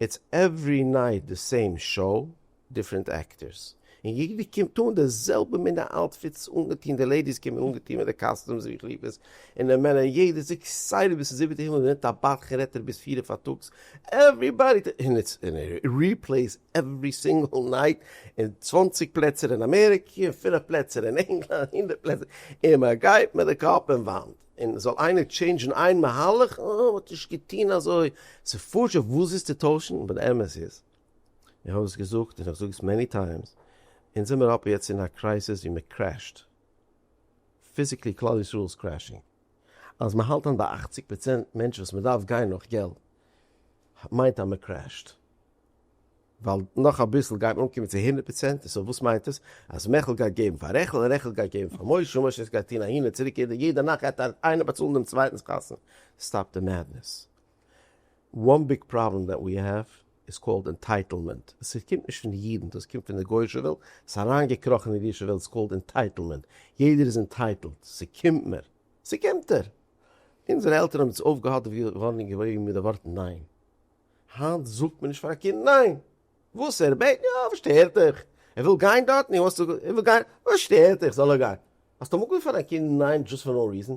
איטס עווערי נייט די סעים שאו, דיפרענט עקטערס און יעדער קומט אן די זעלבע מינע אוטפיטס אנגעטון, די לעידיס קומען אנגעטון מיט די קאסטומס ווי כליפות, און די מענער יעדער איז עקסייטעד ביז צום זיבעטע הימל, מ'נעמט א באטך און רעדט דערביס פירער פארטאגס, עוועריבאדי טאקס און איטס און ריפלעיס עווערי סינגעל נייט, אין צוואנציג פלעצער אין אמעריקע, אין פינף פלעצער אין ענגלאנד, הונדערט פלעצער, און מ'גייט מיט די קאפ אין וואנט, און זאל איינער טשעינדזשן איין מהלך, אה מ'האט נישט געטון אזוי, ס'פשוט וואס איז צו טוישן, אבער די אמת איז איך האב עס געזאגט און איך זאג עס מעני טיימס, אונז זעמיר אפי' יעצט אין א קרייסיס ווי מען קרעשט, פיזיקלי כלל ישראל איז קרעשינג, אז מען האלט אן ביי אכציג פראצענט מענטשן וואס מען דארף גיין נאך געלט מיינט אז מען קרעשט, ווייל נאך אביסל גייט מען אנקומען צו הונדערט פראצענט, סאו וואס מיינט עס? אז מעכל גייט געבן פאר רעכל און רעכל גייט געבן פאר משה און משה גייט טון אהין און צוריק יעדע נאכט גייט איינער באצאלן דעם צווייטנס חתונה, סטאפ די מעדנעס. וואן ביג פראבלעם דעט ווי העוו איז קאלד ענטייטעלמענט, עס קומט נישט פון די אידן דאס קומט פון די גוישע וועלט, עס איז אריינגעקראכן אין אידישע וועלט, עס איז קאלד ענטייטעלמענט, יעדער איז ענטייטעלט, ס'קומט מיר, ס'קומט דיר! אונזערע עלטערן האבן אונז אויפגעהאט ווארן און געוואויגן מיט די ווארט ניין! היינט זאגט מען נישט פאר א קינד ניין! וואס ער בעט? יא, וואס שטערט דיך? ער וויל גיין דארטן? יא, וואס שטערט דיך? זאל ער גיין! האסט אמאל געוואויגן פאר דיין קינד ניין דזשאסט פאר נאו ריזען?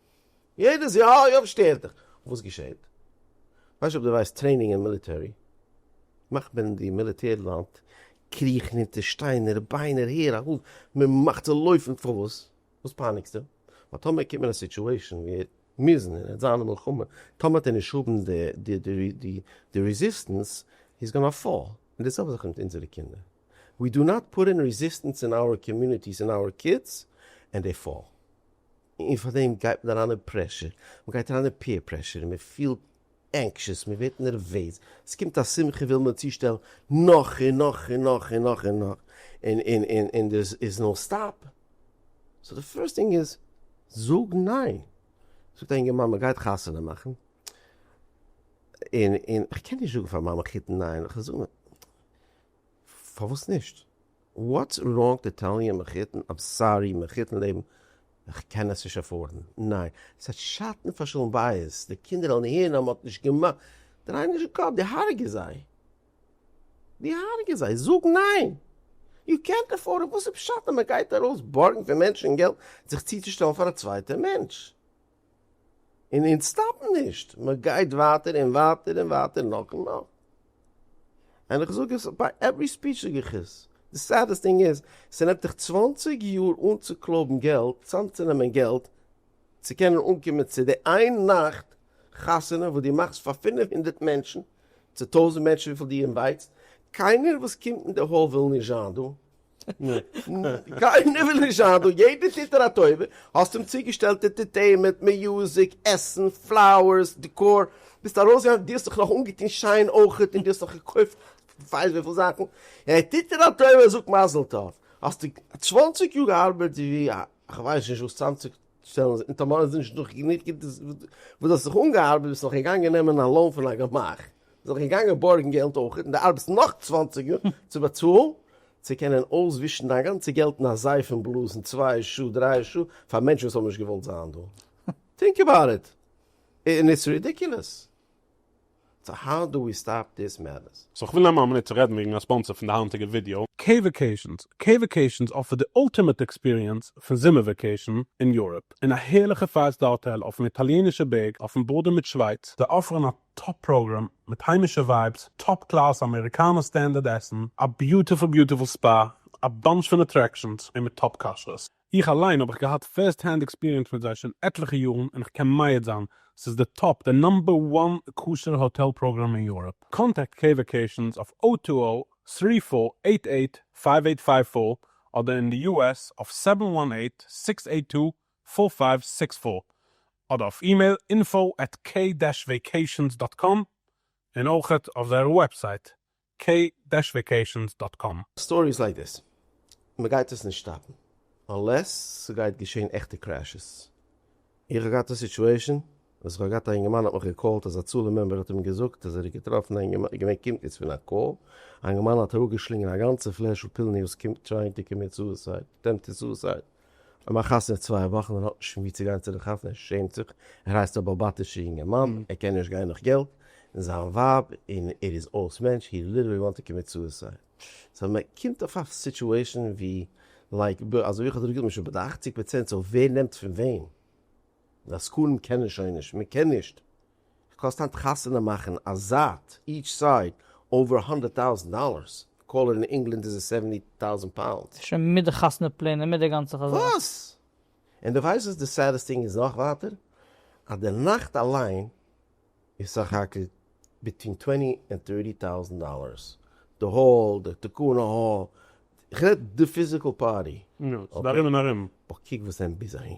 יעדעס יאר אוי אויב שטערט דיך. וואס געשעהט? ווייסט אויב דו ווייסט טרעינינג אין מיליטערי מאכט מען אין די מיליטער לאנד קריכן אונטער שטיינער ביינער הער אויף מען מאכט זיי לויפן פארוואס וואס פייניגסטו ווייל טאמער קומט מען אין א סיטואשען ווי ער מוז און ער וועט זיין אין מלחמה טאמער האט ער נישט האבן די רעזיסטענס הי איז גאנא פאל און די זעלבע זאך מיט אונזערע קינדער ווי דא נאט פוט אין רעזיסטענס אין אווער קאמיוניטיס אין אווער קידס ענד דעי פאל. און פאר דעם גייט מען אריין אין פרעשור, מען גייט אריין אין פעיר פרעשור, און מען פילט ענקשעס, מען ווערט נערוועז, עס קומט א שמחה וויל מען צושטעלן נאך און נאך און נאך און נאך און נאך, און און און און דער איז נאו סטאפ, סאו די פירסט טינג איז זאג ניין, זאגט א אינגערמאן מען גייט חתונה מאכן, און און איך קען נישט זאגן פאר מיין מאמע חיתן ניין, איך זאג פארוואס נישט? וואטס ראנג טו טעל מי מחותן איים סארי מחותן לעבן כ'קען עס נישט עפארדן ניין ס'האט שאטן פאר שלום בית די קינדער וועלן הערן אז מ'האט נישט געמאכט דריי נישט די קאפ די הרג'ס זיי די הרג'ס זיי זאג ניין יו קענט עפארד וואס איז פשט אז מ'גייט ארויס בארגן פון מענטשן געלט זיך צוצושטעלן פאר א צווייטע מענטש. און אונז סטאפן נישט, מען גייט ווייטער און ווייטער און ווייטער נאך און נאך, און איך זאג עס ביי עווערי ספיטש זאג איך עס, די סעדעסט טינג איז, ס'נעמט דיך צוואַנציק יאר אנצוקלויבן געלט, צאמצונעמען געלט, צו קענען אנקומען צו די איין נאכט חתונה וואס דו מאכסט פאר פֿינף הונדערט מענטשן, צו טויזנט מענטשן וויפיל דו אינווייטסט, קיינער וואס קומט אין די האל וויל נישט זיין דא, קיינער וויל נישט זיין דא, יעדער טוט דיר א טובה, האסט אים צוגעשטעלט ענטערטעינמענט, מיוזיק, עסן, פלאוערס, דעקאר, ביסט ארויסגעגאנגען, דו האסט זיך נאך אנגעטון שיין אויך, און דו האסט נאך געקויפט כווייס וויפיל זאכן, ער טוט דיר א טובה, זאג מזל טוב, האסטו צוואנציג יאר געארבעט ווי א כווייס נישט וואס צוואנציג שטעלן זיך און טאמאר איז נישט דא גענוג געלט וואס דו האסט זיך אנגעארבעט ביסט נאך געגאנגען נעמען א לאון פון א גמח ביסט נאך געגאנגען בארגן געלט אויך און דו ארבעטסט נאך צוואַנציק יאר צו באצאלן צו קענען אויסווישן דיין גאנצע געלט אין א זייף און בלאזן צוויי שעה דריי שעה פאר מענטשן וואס האבן נישט געוואלט זיין דא טינק עבאוט איט און איטס רידיקולעס. סאו האו דו ווי סטאפ דיס מעדנעס? סאו כ'וויל נעמען א מינוט צו רעדן וועגן א ספאנסער פון די היינטיגע ווידיאו. קעי-וואקעישאנס, קעי-וואקעישאנס אפערט די אולטימעט עקספיריענס פון זומער וואקעישאן אין יוראפ, אין א הערליכע פייוו סטאר האטעל אויפן איטאליענישע בערג אויפן בארדער מיט שווייץ, זיי אפערן א טאפ פראגראם מיט היימישע ווייבס, טאפ קלאס אמעריקאנע סטענדערד עסן, א ביוטיפול ביוטיפול ספא, א באנטש פון אטרעקשאנס, און מיט טאפ כשרות. איך אליין האב איך געהאט פירסט הענד עקספיריענס מיט זיי שוין עטליכע יארן און איך קען מעיד זיין ס'איז די טאפ די נאמבער וואן כשר האטעל פראגראם אין יוראפ. קאנטעקט קעי וואקעישאנס אויף או טו או טרי פאר עיט עיט פייוו עיט פייוו פאר אדער אין די יו עס אויף סעווען וואן עיט סיקס עיט טו פאר פייוו סיקס פאר אדער אויף אימעיל אינפאו עט קעי דעש וועיקעישאנס דאט קאם און אויכעט אויף זייער וועבסייט קעי דעש וועקעישאנס דאט קאם. סטארי איז לייק דעס, מ'גייט עס נישט סטאפן אנלעס ס'גייט געשען עכטע קרעשעס. איך האב געהאט א סיטועשען וואס איך האב געהאט א אינגערמאן האט מיך געקאלט אז הצלה מעמבער האט אים געזאגט אז ער האט געטראפן א אינגערמאן געווען קומט יעצט פון א קאל א אינגערמאן האט אראפגעשלינגען א גאנצע פלעשל פילניוס קומט טרייען טו קאמיט סוסייד אטעמפטעד סוסייד. און מיין חתן איז צוויי וואכן און האט נישט פון וואו צו גיין צו די חתונה, ער שעמט זיך, ער הייסט א באלבאטישע יונגערמאן, ער קען נישט גיין נאך געלט, און זיין ווייב, און ער איז אויס מענטש, הי ליטערלי וואנט טו קאמיט סוסייד. סא מען קומט אויף א סיטואשען ווי לייק ב, אזוי ווי איך האב דיר געזאגט, מען איז שוין ביי די אכציג פראצענט, סא ווער נעמט פון וועם? די עסקנים קענען שוין נישט, מען קען נישט. קאסט היינט חתונה מאכן א זייט, איטש סייד, אווער האנדערט טאוזענט דאללערס, קאלער אין ענגלאנד איז עס סעווענטי טאוזענט פאונדס. שוין מיט די חתונה פלענער מיט די גאנצע חזק. וואס! און די ווייסט וואס די סעדעסט טינג איז נאך ווייטער? אז די נאכט אליין איז סך הכל ביטווין טווענטי ענד טערטי טאוזענט דאללערס, די האל, די תקנה האל, איך רעד די פיזיקעל פארטי. יא, ס'איז די ארום און ארום. אבער קוק וואס ענד ביז אהין.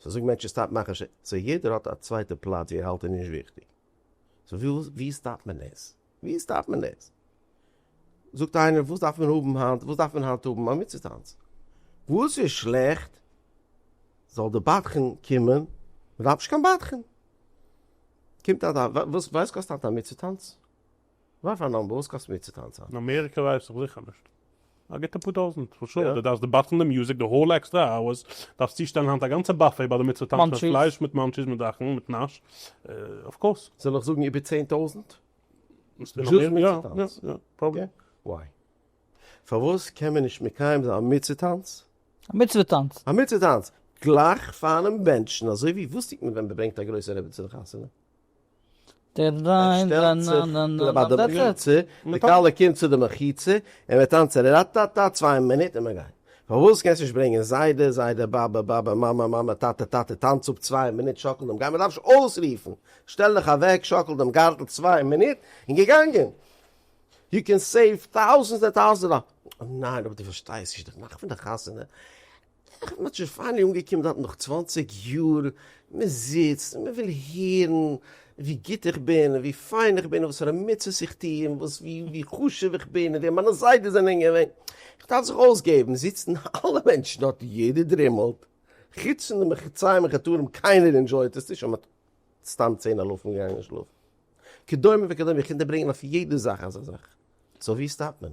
סא זאג מענטשן סטאפ מאכן ש ס, יעדער האט א צווייטע פלאץ ווי ער האלט איז נישט וויכטיג, סא ווי סטאפט מען עס? ווי סטאפט מען עס? זאגט איינער וואס דארף מען האבן היינט, וואס דארף מען היינט האבן? א מצוה טאנץ? וואס איז שלעכט? זאל די בדחן קומען, מען דארף נישט קיין בדחן. קומט א ד א, וואס קאסט היינט א מצוה טאנץ? וואט פאר נאמבער? וואס קאסט מיר צו טאנצען? אין אמעריקע ווייס איך זיכער נישט. א גוטע פאר טויזענט פאר שעה. דו דארפסט דיבאטען די מוזיק די האול עקסטער אווערס, דארפסט צושטעלן היינט א גאנצע באפעי ביי די מצוה טאנץ מיט פלייש מיט מאנטשיס מיט זאכן מיט נאש אויף קאורס. זאל איך זאגן איבער צען טויזענט? דזשאסט מצוה טאנץ? יא יא פראבלי. וויי? פארוואס קען מען נישט מקיים זיין א מצוה טאנץ? א מצוה טאנץ? א מצוה טאנץ גלייך פארן בענטשן אזוי ווי וואס טוט מען ווען מ'ברענגט א גרויסע רעבעצין לחתונה? ער שטעלט זיך ביי די מחיצה, די כלה קומט צו די מחיצה, און מיר טאנצען ראטאטא צוויי מינוט און מיר גייען. פארוואס קענסט נישט ברענגען זיידע, זיידע, באבע, באבע, מאמע, מאמע, טאטע, טאטע, טאנץ אפ צוויי מינוט, שאקל דעם גארטל, מען דארף נישט אויסרופן, שטעל דיך אוועק, שאקל דעם גארטל צוויי מינוט און געגאנגען. יו קען סעיוו טאוזענדס און טאוזענדס דאללער. ניין אבער דו פארשטייסט נישט, די נאכט פון די חתונה איך בין שוין פיינעלי אנגעקומען דארט נאך צוואנציג יאר, מען זיצט און מען וויל הערן ווי גוט איך בין און ווי פיין איך בין און וואסארא מצוות איך טו און וואס ווי חשוב איך בין און ווער מיינע זיידעס זענען געווען, איך דארף זיך אויסגעבן, זיצן אלע מענטשן דארט און יעדער דרימלט, חוץ פון די מחוציים און חטאים קיינער ענדשויט עס נישט אז מען האט סתם צען אלפים געגאנגען שלאפן, כדומה וכדומה איך קען דיר ברענגען אויף יעדע זאך אזא זאך, סאו ווי סטאפט מען?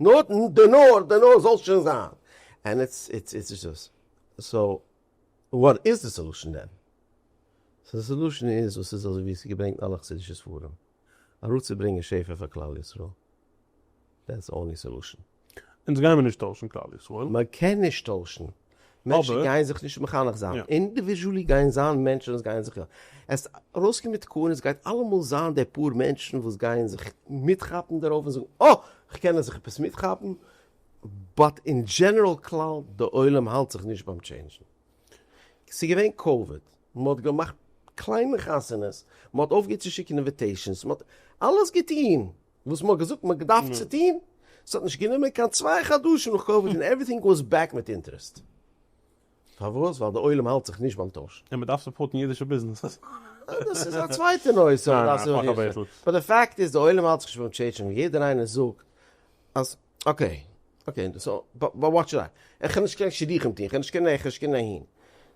נאר די נאר די נאר זאלסט שוין זיין ענד איטס איטס איטס איטס דאס סאו וואט איז די סעלושען דען? די סעלושען איז וואס איז אזוי ווי עס איז געברענגט אין אלע חסידישע ספרים אראפצוברענגען שפע פאר כלל ישראל דעטס אנלי סעלושען. אונז גיימער נישט טוישן כלל ישראל. מען קען נישט טוישן. מענטשן גייען זיך נישט מחנך זיין, אינדיוויזשעלי גייען זיין מענטשן וואס גייען זיך, עס ארויסקומען מיט תקנות, עס גייט אלעמאל זיין די פאר מענטשן וואס גייען זיך מיטכאפן דערויף און זאגן אה! כ'קען זיך עפעס מיטכאפן, באט אין דזשענעראל כלל די עולם האלט זיך נישט ביים טשעינדזשן. ס'איז געווען קאוויד, מען האט געמאכט קליינע חתונות, מען האט אויפגעהערט צו שיקן אינוויטעישאנס, מען האט אלעס געטון, וואס מען האט געזאגט מען געדארפט צו טוהן, ס'האט נישט גענומען קיין צוויי חדשים נאך קאוויד און עווריטינג וואס בעק מיט אינטערעסט, פארוואס? ווייל די עולם האלט זיך נישט ביים טויש. און מען דארף סופארטן אידישע ביזנעסעס. דאס איז א צווייטע נושא. באט די פאקט איז די עולם האלט זיך נישט ביים טשעיטשינג און יעדער איינער זאגט אז. אקעי, אקעי, סאו וואט שוד איי, איך קען נישט קיין שידוכים טוהן, איך קען נישט קיין איך, נישט קיין אהין.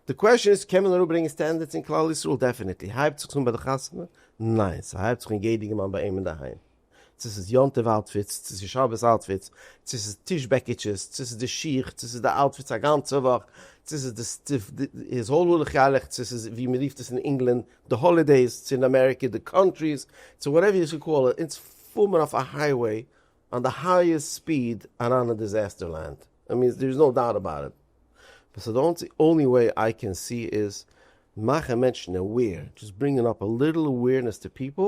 די קוועשאן איז, קען מען אראפברענגען סטענדערדס אין כלל ישראל? דעפענעטלי. הייבט זיך עס אן ביי די חתונה? ניין, ס'הייבט זיך אן יעדעגע מאל ביי אים אינדערהיים. צו ס'איז יום טוב אוטפיטס, צו ס'איז שבת אוטפיטס, צו ס'איז טיש בעקיטשעס, צו ס'איז די שיך, צו ס'איז די אוטפיטס א גאנצע וואך, צו ס'איז די סטיוו, די איז האל הולך ילך, צו ס'איז ווי מ'רופט עס אין ענגלאנד די האלידעיס, צו אין אמעריקע די קאנטריס, צו וואטעווער יו קאל איט, אונז פאר מיר אויף א הייוועי אן די הייעסט ספיד אריין אין דיזעסטער לענד, איי מין דער איז נאו דאוט אבאוט איט, בה סא די אנצי אנלי וועי איי קען סי איז מאכן מענטשן עוועיר, דזשאסט ברינגען אפ א ליטעל עוועירנעס טו פיפעל,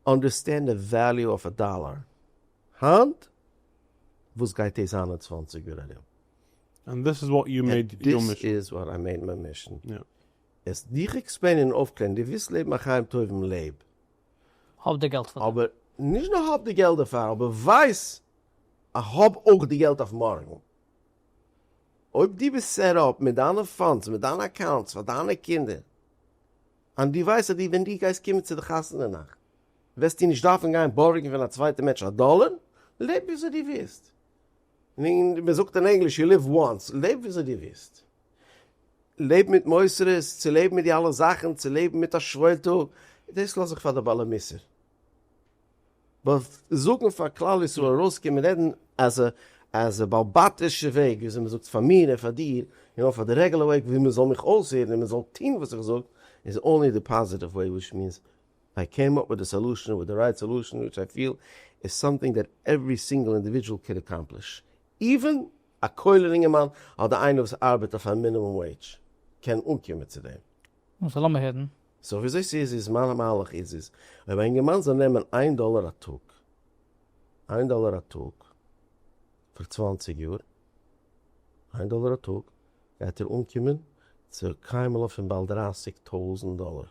אנדערסטענד די וועליו אף א דאלאר היינט וואס גייט דאס זיין אין צוואנציג יאר ארום. ענד דיס איז וואט יו מעיד יור מישן. ענד דיס איז וואט איי מעיד מיי מישן. עס דיך עקספלעינען און אויפקלערן, דו ווילסט לעבן א חיים טובים לעב. האב די געלט פאר דעם. אבער נישט נאר האב די געלט דערפאר, אבער ווייס אז האב אויך די געלט אויף מארגן. אויב דו ביסט סעט אפ מיט דיינע פאנדס, מיט דיינע אקאונטס פאר דיינע קינדער, און דו ווייסט אז דו ווען דו גייסט קומען צו די חתונה נאכט, וועסטו נישט דארפן גיין בארגן פון א צווייטע מענטש א דאלער, לעב וויאזוי דו ווילסט. און מען זאגט אין ענגליש יו ליוו וואנס, לעב וויאזוי דו ווילסט, לעב מיט מוסרות, צו לעבן מיט די אלע זאכן, צו לעבן מיט א שוואויל טאג, דאס לאז איך פאר די בעלי מוסר. באט זאגן פאר כלל ישראל ארויסקומען רעדן אז אז בעל בתי'שע וועג וויאזוי מען זאגט פאר מיר און פאר דיר, און אויך פאר די רעגולער וועג ווי מען זאל מיך אויסהערן און מען זאל טון וואס איך זאג, איז אנלי די פאזיטיוו וועי וויטש מיענס איי קעים אפ וויט די סעלושען, וויט די רייט סעלושען, וויטש איי פיל איז סאמטינג דעט עוורי סינגעל אינדיווידזשעל קען אקאמפליש, איווען א כולל אינגערמאן אדער איינער וואס ארבעט אויף א מינימום וועידזש קען אנקומען צו דעם. נו סא לאמיר הערן. סא וויאזוי ס'איז איז, מיין מהלך איז איז, אויב א אינגערמאן זאל נעמען איין דאלער א טאג, איין דאלער א טאג, פאר צוואַנציק יאר, איין דאלער א טאג, גייט ער אנקומען צו קיינמאל אויף און באלד דרייסיג טויזענט דאלער.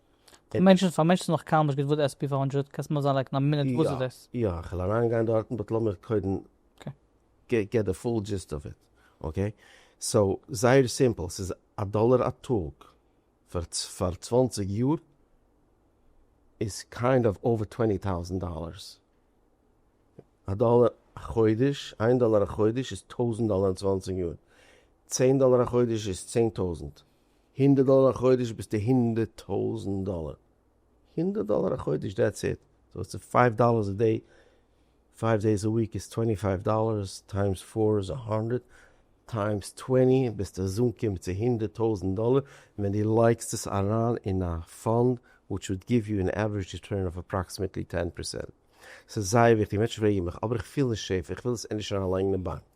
די מענטשן פארמענטשן זיך נאך קאם נישט געט וואס די עס פי פאר הונדרעט קענסט מיר אזאנלייקן א מינוט וואס איז דאס? יא יא כ'על אריינגיין דארטן באט לאמיר קודם געט די פול דזשיסט אוו איט אקעי סאו זייער סימפל ס'איז א דאלער א טאג פאר פאר צוואנציג יאר איז קיינד אוו אווער טווענטי טאוזענט דאלערס א דאלער א חודש איין דאלער א חודש איז טויזענט דאלער אין צוואנציג יאר צען דאלער א חודש איז צען טויזענט הונדערט דאלער א חודש ביסטו הונדערט טויזענט דאלער, הונדערט דאלער א חודש דעטס איט, סאו איטס פייוו דאלערס א דעי, פייוו דעיס א וויק איז טווענטי פייוו דאלערס טיימס פאר איז א האנדרעט טיימס טווענטי ביסט אזאנקומען צו הונדערט טויזענט דאלער, און ווען דו לייגסט עס אריין אין א פאנד וויטש וואלד גיוו יו ען עווערעדזש ריטורן אוו אפראקסימעטלי טען פערסענט. סאיז זייער וויכטיג, מענטשן פרעגן מיך אבער איך פיל נישט סעיף, איך וויל עס ענדערש אריינלייגן אין באנק.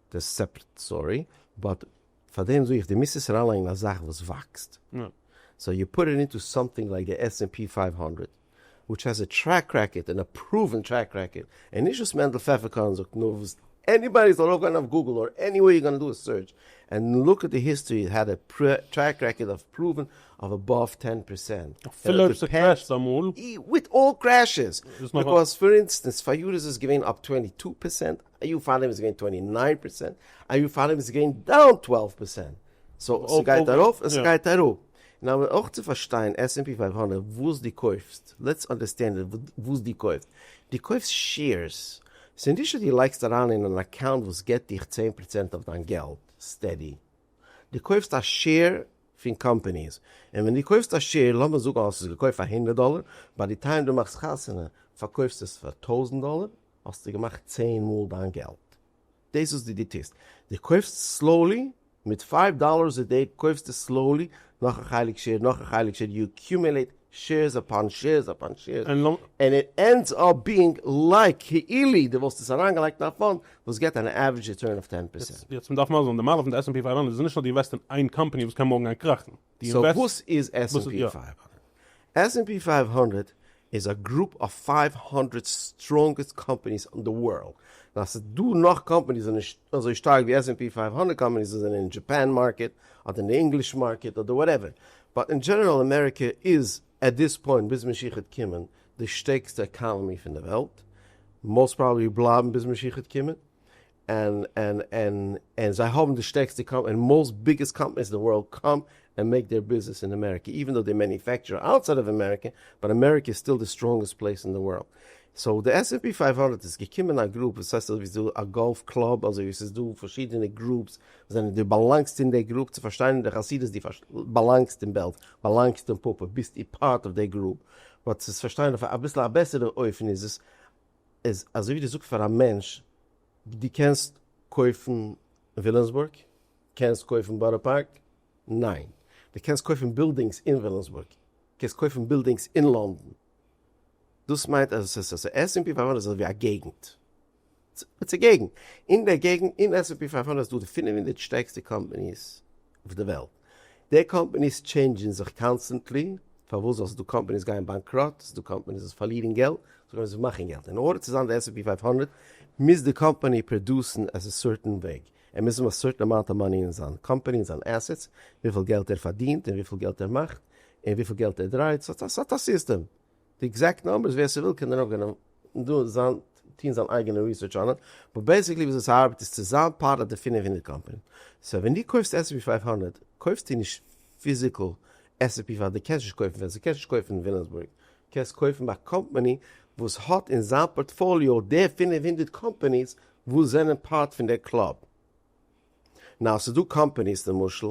דעס סעפרעט סטארי, באט פאר דעם זאג איך די מיזט עס אריינלייגן אין א זאך וואס וואקסט, סאו יו פוט איט אינטו סאמטינג לייק די עס ענד פי פֿינף הונדרעט וויטש העז א טרעק רעקארד, און א פראווען טרעק רעקארד, און נישט וואס מענדל פעפערקארן זאגט נאר וואס עניבאדי זאל ארויפגיין אויף גוגל אר עניוועיר יו גאנא דא א סערטש ענד לוק עט די היסטארי איט העד א טרעק רעקארד אוו פראווען אוו אבאוו טען פערסענט אפילו אויב ס'קרעשט אמאל וויט אלל קרעשעס, ביקאוז פאר אינסטענס פאריאר איז עס געווען אפ טווענטי טו פערסענט א יאר פארדעם איז געווען טווענטי ניין פערסענט, א יאר פארדעם איז געווען דאון טוועלוו פערסענט, סאו ס'גייט ארויף און ס'גייט אראפ. און אבער אויך צו פארשטיין עס ענד פי פייוו הונדערט וואס דו קויפסט, לעטס אנדערסטענד איט וואס דו קויפט, דו קויפסט שעירס, ס'איז נישט אז דו לייגסט אריין אין אן אקאונט וואס געבט דיך צען פערסענט אויף דיין געלט סטעדי, דו קויפסט א שעיר פון קאמפעניס, און ווען דו קויפסט א שעיר, לאמיר זאגן האסט עס געקויפט פאר הונדערט דאלער, ביי די טיים דו מאכסט חתונה פארקויפסטו עס פאר טויזנט דאלער, האסטו געמאכט צען מאל דיין געלט. דאס וואס די די טוסט, די קויפסט סלאולי, מיט פייוו דאללערס א דעי קויפסטו סלאולי נאך א חלק שעיר נאך א חלק שעיר, יו עקיומעלעיט שעירס אפאן שעירס אפאן שעירס, ענד איט ענדס אפ ביאינג לייק כאילו די וואלסט עס אריינגעלייגט אין א פאנד וואס געט אן עווערעדזש ריטורן אויף טען פערסענט. יעצט מ'דארף מסביר זיין, די מעלה פון די עס ענד פי פייוו הונדערט איז נישט אז די אינוועסט אין איין קאמפאני וואס קען מארגן גיין קראכן. סאו וואס איז עס ענד פי פייוו האנדרעט? עס ענד פי פייוו האנדרעט איז א גרופ אוו פייוו האנדרעט סטראנגעסט קאמפעניס און די ווארלד, און אז ס'איז דא נאך קאמפעניס וואס זענען נישט אזוי שטארק ווי עס ענד פי פייוו האנדרעט קאמפעניס וואס זענען אין דזשעפען מארקעט אדער אין די ענגליש מארקעט אדער וואטעווער, באט אין דזשענעראל אמעריקע איז עט דיס פוינט ביז משיח וועט קומען די שטערקסטע עקאנעמי פון די וועלט, מאוסט פראבעבלי בלייבן ביז משיח וועט קומען, און און און און זיי האבן די שטערקסטע קאמ און מאוסט ביגעסט קאמפעניס אין די ווארלד קאם און מעיק דעיר ביזנעס אין אמעריקע איווען דאו דעי מעניופעקטשער אוטסייד אוו אמעריקע באט אמעריקע איז סטיל די סטראנגעסט פלעיס אין די ווארלד סאו די עס ענד פי פֿינף הונדערט איז געקומען אין א גרופ וואס הייסט אזויווי ס'איז דא א גאלף קלאב אזויווי ס'איז דא פארשידענע גרופס וואס זענען דו באלאנגסט אין דעי גרופ צו פארשטיין אין די חסידות דו באלאנגסט אין בעלז באלאנגסט אין פאפא ביסט איר פארט אוו דעי גרופ באט צו עס פארשטיין אויף א אביסל א בעסערע אופן איז עס איז אזוי ווי דו זאגסט פאר א מענטש דו קענסט קויפן וויליאמסבורג? קענסט קויפן בארא פארק? ניין. דו קענסט קויפן בילדינגס אין וויליאמסבורג? קענסט קויפן בילדינגס אין לאנדאן? דאס מיינט אז עס איז עס ענד פי פייוו הונדערט איז אזוי ווי א געגנט. ס'איז א געגנט. אין דער געגנט אין עס ענד פי פייוו הונדערט איז דא די פֿינף הונדערט שטערקסטע קאמפאניס. אויף די וועלט. די קאמפעניס טשעינדזשען זיך קאנסטענטלי, פארוואס זאלסט דא קאמפעניס גייען באנקראט, ס'דא קאמפעניס וואס פארלירן געלט, ס'דא קאמפעניס וואס מאכן געלט, אין ארדער צו זיין די עס ענד פי פֿינף הונדערט מוז די קאמפעני פראדוסן עס א סורטען וועג, ער מוז האבן א סורטען אמאונט אוו מאני אין זיין קאמפעני אין זיין עסעטס, וויפיל געלט ער פארדינט און וויפיל געלט ער מאכט און וויפיל געלט ער דרייט, ס'האט א סיסטעם, די עקזעקט נאמבערס ווער ס'וויל קען ארויפגיין און דא זיין טוהן זיין אייגענע ריסערטש אן עס, באט בעסיקלי וויאזוי ס'ארבעט איז צו זיין פארט אויף די פֿינף הונדערט קאמפאני, סאו ווען דו קויפסט עס ענד פי פֿינף הונדערט קויפסטו נישט פיזיקל עס ענד פי ווייל דו קענסט נישט קויפן ווען ס'קענסט נישט קויפן אין וויליאמסבורג, קענסט קויפן ביי א קאמפאני וואס האט אין זיין פארטפאליאו די פֿינף הונדערט קאמפאניס וואס זענען פארט פון די קלאב. נאו ס'דא קאמפאניס למשל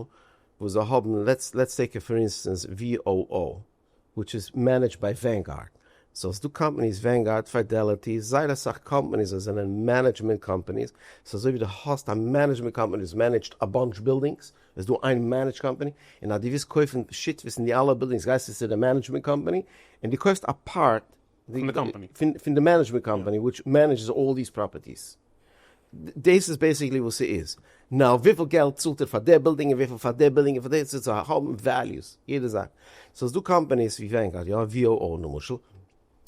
וואס זיי האבן לעטס טעיק פאר אינסטענס VOO. וויטש איז מענעדזשד ביי ווענגארד, סאו ס'איז דא קאמפעניס ווענגארד, פיידעליטי, זייער אסאך קאמפעניס וואס זענען מענעדזשמענט קאמפעניס, סאו אזוי ווי דו האסט א מענעדזשמענט קאמפעני וואס מענעדזשד א באנטש בילדינגס, איז דא איין מענעדזש קאמפעני, און אז דו ווילסט קויפן שותפות אין די אלע בילדינגס גייסטו צו די מענעדזשמענט קאמפעני, און דו קויפסט א פארט פון די קאמפאני. פון די מענעדזשמענט קאמפאני וויטש מענעדזשס אלל דיס פראפערטיס. דאס איז בעיסיקלי וואס ס'איז. נאו וויפיל געלט צאלט איר פאר די בילדינג און וויפיל פאר די בילדינג און פאר די צו האבן וועליוס יעדע זאך. סאו ס'איז דא קאמפאניס ווי ווענגארד יא ווי או או למשל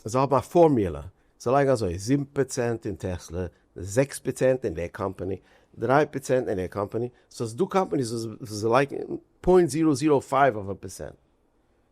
זיי האבן א פארמולא זיי לייגן אזוי זיבן פראצענט אין טעסלע זעקס פראצענט אין די קאמפאני דריי פראצענט אין די קאמפאני סאו ס'איז דא קאמפאניס וואס זיי לייגן פוינט זירא זירא פייוו אויף א פערסענט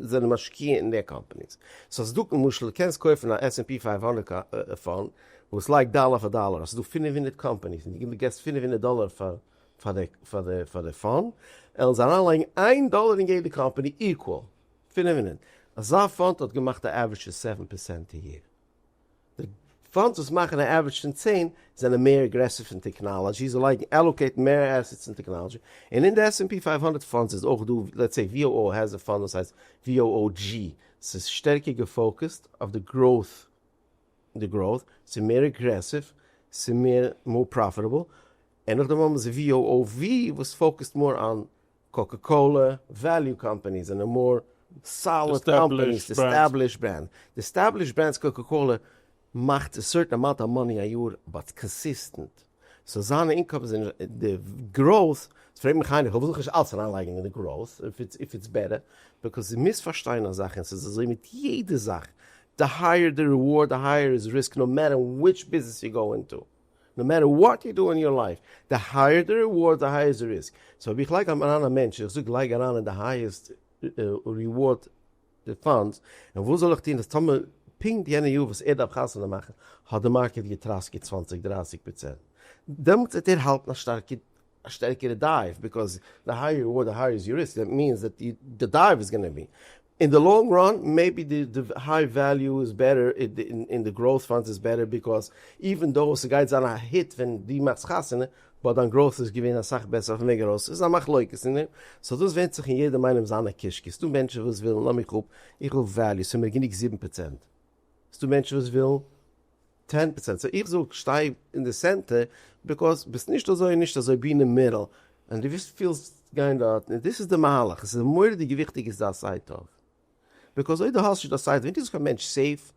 זענען משקיע אין מער קאמפאניס. סאו ס'דא למשל קענסט קויפן א עס ענד פי פֿינף הונדערט פאנד וואס לייגט דאלער פאר דאלער, ס'דא פֿינף הונדערט קאמפאניס און דו געסט פֿינף הונדערט דאלער פאר די פאנד, עלען זיי אריינלייגן איין דאלער אין יעדע קאמפאני איקוואל פֿינף הונדערט, אזא פאנד האט געמאכט א עווערידזש פון סעווען פערסענט א יער, די פאנדס וואס מאכן א עווערעדזש פון צען זענען מער אגרעסיוו אין טעקנאלאדזשי, זיי לייגן, עלאקעיטן, מער עסעטס אין טעקנאלאדזשי, און אין די עס ענד פי פֿינף הונדערט פאנדס איז אויך דא, לעטס סעי VOO העז א פאנד וואס הייסט VOOG, ס'איז שטערקער געפאוקעסט אויף די גראוט, די גראוט, ס'איז מער אגרעסיוו, ס'איז מער מאר פראפיטעבל, און נאכדעם האבן זיי VOOV וואס פאוקעסט מאר אן. קאקע קאלע וועליו קאמפעניס זענען מאר סאליד קאמפעניס די עסטעבלישט ברענד די עסטעבלישט ברענדס קאקע קאלע מאכט א סערטען אמאונט אוו מאני א יאר באט איטס קאנסיסטענט סאו זיינע אינקאמס און די גראוט איז פרעג מיך איינער איך וויל זיך נישט אלץ אריינלייגן אין די גראוט אויב איטס בעטער ביקאוז דו מוזט פארשטיין א זאך און ס'איז אזוי מיט יעדע זאך די הייער די ריווארד די הייער איז ריסק נאו מעטער וויטש ביזנעס יו גאו אינטו. נאו מעטער וואט יו דו אין יור לייף, די הייער די ריווארד די הייער איז די ריסק, סאו אויב איך לייג אריין א מענטש איך זאג לייג אריין אין די הייעסט ריווארד די פאנדס, און וואס זאל איך טון אז טאמער פונקט יענע יאר וואס ער דארף חתונה מאכן האט די מארקעט געטראסקעט צוואַנציק דרײַסיק פראצענט, דעמאלטס וועט ער האלטן א שטארקע א שטערקערע דייוו ביקאוז די הייער יו אר די הייער איז יור ריסק דעט מיענס דעט די דייוו איז גאנע בי אין די לאנג ראן מעיבי די היי וועליו איז בעטער אין די גראוט פאנדס איז בעטער ביקאוז איווען דאו ס'גייט זיין א היט ווען די מאכסט חתונה באט דיין גראוט איז געווען אסאך בעסער אויפן וועג ארויס ס'איז א מחלוקת אין דעם סאו דאס ווענדט זיך אין יעדעם איינעם זיינע קישקעס ס'דא מענטשן וואס ווילן לאמיך אפ איך וויל וועליו ס'מיר גענוג זיבן פראצענט. ס'דא מענטשן וואס ווילן טען פראצענט, סאו איך זאג שטיי אין די סענטער, ביקאוז ביסט נישט אזוי און נישט אזוי, בי אין די מידל, און דו ווילסט ווילסט גיין דארט, און דאס איז די מהלך, עס איז מורא'דיג וויכטיג איז דיין סייד טוב, ביקאוז אויב דו האסט נישט דיין סייד וועט נישט זיין קיין מענטש סעיף,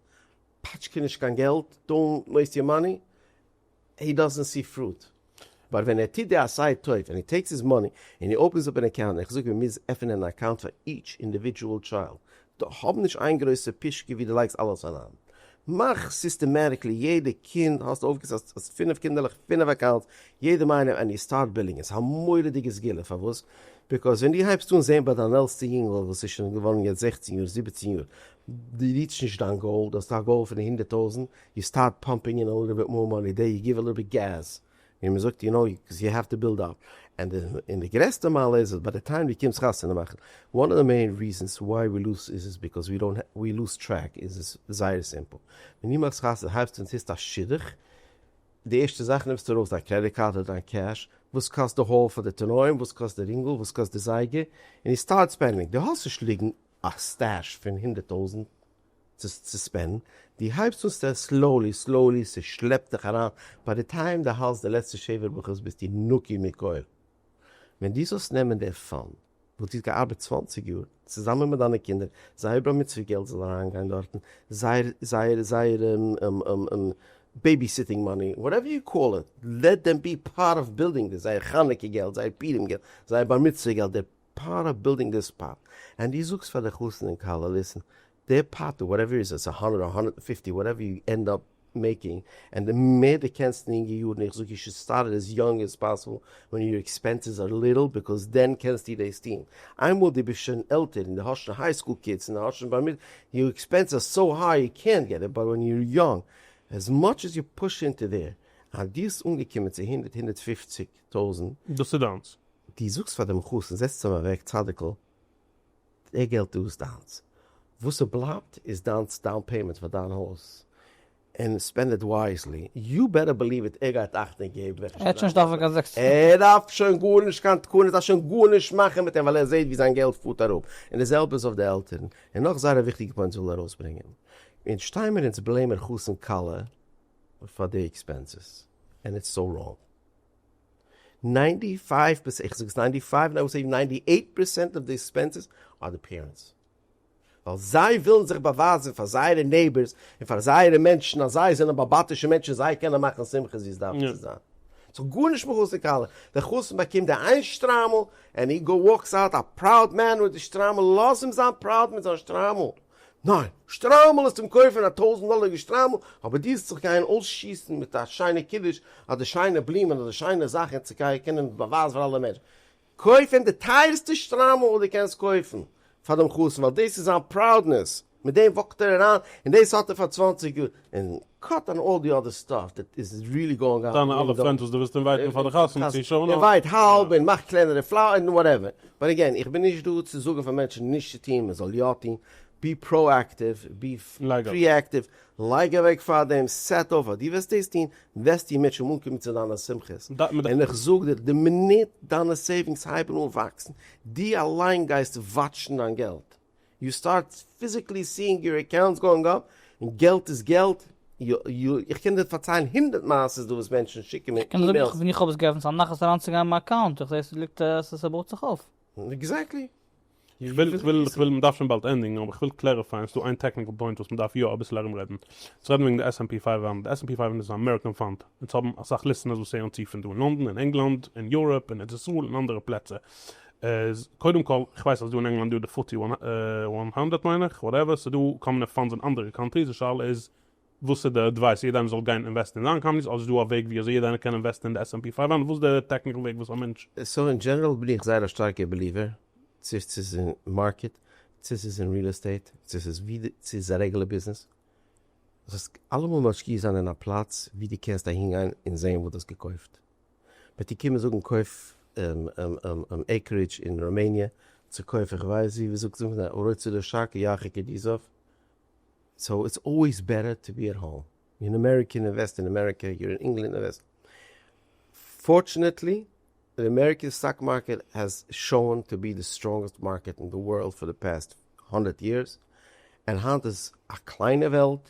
פאטש קיין נישט קיין געלט, דאונט וועיסט יור מאני, הי דאזענט סי פראוד. באט ווען ער טוט די עשי' טוב ענד הי טעיקס היז מאני ענד הי אפענס אפ ען אקאונט איך זאג מען מוז עפענען אן אקאונט פאר איטש אינדיווידשועל טשיילד דא האב נישט איין גרויסע פישקע ווי דו לייגסט אלעס אריין מאך סיסטעמעטיקלי יעדע קינד האסט אויפגעסעט אז פינף קינדערלעך פינף אקאונטס יעדעם איינעם ענד יו סטארט בילינג איז א מורא'דיגע סגולה פארוואס ביקאוז ווען דו הייבסט אן זעהן ביי דיין עלסטע יונגעל וואס איז שוין געווארן יעצט זעכצן יאר זיבעצן יאר דו ריעטשט נישט דיין גאול דו האסט א גאול פון הונדערט טויזענט יו סטארט פאמפינג אין אליטל ביט מאר מאני דעי יו גיוו אליטל ביט געז ווי מען זאגט יו נאו קאוז יו האוו טו בילד אפ ענד און די גרעסטע מעלה איז אז ביי די טיים דו קומסט חתונה מאכן וואן אוו די מעין ריזענס וויי ווי לוז איז איז ביקאוז ווי דאונט ווי לוז טרעק איז איז זייער סימפל ווען דו מאכסט חתונה הייבסטו און טוסט א שידוך די ערשטע זאך נעמסטו ארויס דיין קרעדיט קארד אדער דיין קעש וואס קאסט די האל פאר די תנאים וואס קאסט די רינגל וואס קאסט די זייגער און יו סטארט ספענדינג דו האסט נישט ליגן א סטעש פון הונדערט טויזענט צו ספענדן, די הייבסט אן סטער סלאולי סלאולי ס'שלעפט דיך אריין, ביי די טיים די האלסט די לעצטע שבעה ברכות ביסטו נקי מכל, ווען די זאלסט נעמען די פאן וואס די האסט געארבעט צוואַנציק יאר צוזאמען מיט דיינע קינדער, זייער בר מצוה געלט זאל אריינגיין דארטן, זייער זייער זייער בעבי סיטינג מאני וואטעווער יו קאל איט, לעט דעם בי פארט אוו בילדינג דעס, זייער חנוכה געלט, זייער פורים געלט, זייער בר מצוה געלט, די. פארט אוו בילדינג דיס פאט, ענד די זאגסט פאר די חתן און כלה ליסען די פאט אוו וואטעווער איז עס א הונדערט אדער הונדערט און פופטי וואטעווער יו ענד אפ מעיקינג, ענד די מער די קענסט אין יונגע יארן איך זאג יו שוד סטארט איט עס יונג עס פאסיבל ווען יור עקספענסעס אר ליטעל ביזקאוס דען קענסטו דעס טוהן, איינמאל די ביסט שוין עלטער און די האסט שוין היי סקול קידס און די האסט שוין בר מצ יור עקספענס אר סאו היי יו קענט געט איט באט ווען יור יונג עז מאטש עז יו פוש אינטו דער און דיסט אנגעקומען צו הונדערט הונדערט פופציג טויזענט. דאס איז דיינס. דו זאגסט פאר דעם חתן זעצט אים אוועק צדיק'ל די געלט דא איז דיינס וואס ס'בלייבט איז דיינס דאון פעימענט פאר דיין הויז ענד ספענד איט ווייזלי, יו בעטער בעליוו איט ער גייט אכטונג געבן וועלכע שטראף ער האט שוין נישט דארף פאר קיין זעקס ער דארף שוין גארנישט קיין תקנות אז שוין גארנישט מאכן מיט אים ווייל ער זעהט ווי זיין געלט פארט אראפ און די זעלבע איז אויף די עלטערן און נאך זייער א וויכטיגע פוינט זאל ער ארויסברענגען אונז שטיימער אונז בלעימען חתן כלה פאר די עקספענסעס ענד איטס סאו ראנג. ניינטי פייוו פערסענט, איך זאג עס ניינטי פייוו און איי וואלט סעי ניינטי עיט פערסענט אוו די עקספענסעס אר די פערענטס. ווייל זיי ווילן זיך באווייזן פאר זייערע נעיבערס און פאר זייערע מענטשן אז זיי זענען באבאטישע מענטשן זיי קענען מאכן שמחות ווי עס דארף צו זיין. ס'האט גארנישט מיט חתן כלה. דער חתן באקומט די איין שטריימל ענד הי גאו וואקס אוט א פראוד מען מיט די שטריימל, לאז אים זיין פראוד מיט זיין שטריימל. ניין, שטריימל איז צום קויפן א טויזנט דאלער'יגע שטריימל, אבער דו זיך גיין אויסשיסן מיט א שיינע קידוש אדער שיינע בלומען אדער שיינע זאכן און צו קענען קענען עס באווייזן פאר אלע מענטשן, קויף אים די טייערסטע שטריימל וואס דו קענסט קויפן פאר דעם חתן ווייל דאס איז זיין פראודנעס, מיט דעם וואקט ער אריין און דאס האט ער פאר צוואנציג יאר, און קאט אן אלל די אדער סטאף דעט איז ריעלי גאוינג אן. דיינע אלע פרענדס וואס דו ווילסט אינווייטן פאר די חתונה צו שנה. אינווייט האלב און מאך קלענערע פלאר און וואטעווער. באט אגעין, איך בין נישט דא צו זאגן פאר מענטשן נישט צו טון, מען זאל יא טון. בי פראאקטיוו, בי פריאקטיוו, לייג אוועק פאר דעם, סעט אויף אז דו וועסט דאס טון, וועסטו און מענטשן אנקומען צו דיינע שמחות. און איך זאג דיר, די מינוט דיינע סעיווינגס הייבן אן וואקסן, דו אליין גייסט וואטשן דיין געלט. יו סטארט פיזיקלי סיאינג יור אקאונטס גאוינג אפ, און געלט איז געלט, איך קען דיר פארציילן הונדערט מעשה'ס דא וואס מענטשן שיקן מיר אימעילס. ווען איך האב עס געעפנט ס'איז א נחת אריינצוגיין אין מיין אקאונט, איך זעה ס'ליגט ס'בויעט זיך אויף. עקזעקטלי. כ'וויל, מ'דארף שוין באלד ענדיגן, אבער כ'וויל קלעריפייען, ס'איז דא איין טעקניקל פוינט וואס מ'דארף יא אביסל ארום רעדן, צו רעדן וועגן די עס ענד פי פייוו האנט, די עס ענד פי פייוו האנט איז אן אמעריקען פאנד, אונז האבן אסאך ליסטענערס וואס הערן צו פון דא אין לאנדאן, אין ענגלאנד, אין יוראפ, אין ארץ ישראל, אין אנדערע פלעצער, איז קודם כל איך ווייס אז דא אין ענגלאנד דא די פארטי וואן וואן הונדרעט מיין איך וואטעווער סאיז דא קאמנע פאנדס אין אנדערע קאנטריס די שאלה איז וואס איז די עדווייס יעדע איינער זאל גיין אינוועסטן אין זיין קאמניס אדער איז דא א וועג ווי אזוי יעדע איינער קען אינוועסטן אין די עס ענד פי פייוו הונדרעט וואס די טעקניקל וועג וואס א מענטש סאו אין דזשענעראל בין איך זייער א שטארקע בעליווער צו סאיז אין מארקעט צו סאיז אין ריעל עסטעיט צו סאיז ווי די צו סאיז א רעגולער ביזנעס זאלסט אלעמאל משקיע זיין אין א פלאץ ווי די קענסט אהינגיין אין זעהן וואס די האסט געקויפט. וועט איר קומען זאגן קויף אן עיקרידזש אין ראמעניע צו קויף איך ווייס ווי, ווי זאגט זאגט מען ארץ צו די שאק ירחק את יזהב, סאו איטס אלוועיס בעטער טו בי עט האום, יור אן אמעריקען אינוועסט אין אמעריקע, יור און ענגלענד אינוועסט, פארטשענעטלי די אמעריקען סטאק מארקעט העז שאון טו בי די סטראנגעסט מארקעט אין די ווארלד פאר די פעסט הונדערט יערס, און היינט איז א קליינע וועלט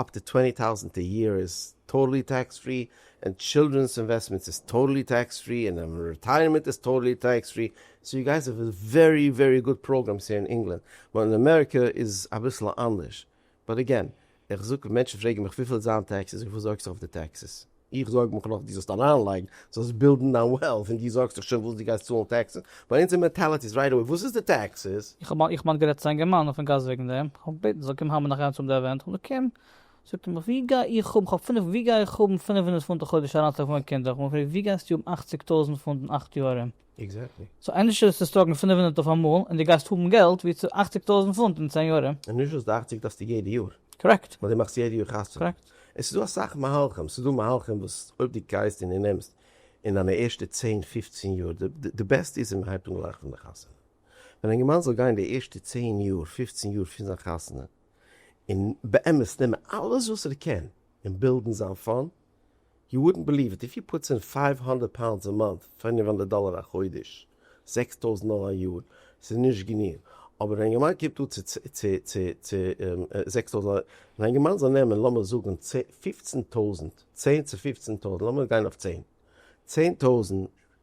אפ טו טווענטי טאוזענט א יער איז טאטעלי טעקס פרי, און טשילדרענס אינוועסטמענטס איז טאטעלי טעקס פרי, און און רעטייערמענט איז טאטעלי טעקס פרי, סאו יו גייס האב ווערי ווערי גוד פראגרעמס הער אין ענגלאנד, באט אין אמעריקע איז אביסל אנדערש, באט עגעין, איך זאג ווען מענטשן פרעגן מיך וויפיל איז זיין טעקסעס, וויפיל זארגסטו אויף די טעקסעס? איך זארג מיך נאך דו זאלסט אריינלייגן, זאלסט בילדן דיין וועלט, און דו זארגסט דיך שוין וואס דו גייסט צאלן טעקסעס. ביי אונז אין מענטעליטי איז רייט אוועי וואס איז די טעקסעס? איך האב כמעט גערעדט צו א אינגערמאן אויפן גאס וועגן דעם, איך האב געבעטן ער זאל קומען האמערן אחיינס אויף די עווענט, כ'האב געקומט, זאגט ער מיך ווי גיי איך האבן, כ'האב פינף, ווי גיי איך האבן פינף הונדערט פונט א חודש אריינצולייגן פאר מיין קינדער, כ'האב אים געפרעגט ווי גייסטו האבן אכציג טויזנט פונט אין אכט יאר ארום? עקזעקטלי. סאו ענדערשער איז צו סטאקן פֿינף הונדערט אויף אמאל און די גייסט האבן געלט ווי צו אַכציק טויזנט פונט אין צען יאר. און נישט וואס די אַכציק דארפסטו יעדע יאר. קארעקט. ווייל די מאכסט יעדע יאר חתונה. קארעקט. עס איז דא אסאך מהלכים, ס'איז דא מהלכים וואס אויב די גייסט און די נעמסט אין דיינע ערשטע צען פופצען יאר, די בעסטע איז ווען מען הייבט אן גלייך פון די חתונה. ווען א אינגערמאן זאל גיין די ערשטע צען יאר, פופצען יאר פון זיין חתונה און באמת נעמען אלעס וואס ער קען און בילדן זיין פאנד, יו וואודענט בעליוו איט, איף יו פוטס אין פייוו הונדערט פאונדס א מאנט, פינף הונדערט דאלער א חודש, זעקס טויזנט דאלער א יאר, ס'איז נישט גענוג, אבער א יונגערמאן קומט אן צו זעקס טויזנט דאלער, און א יונגערמאן זאל נעמען לאמיר זאגן פופצן טויזנט, צען צו פופצן טויזנט, לאמיר גיין אויף צען, צען טויזנט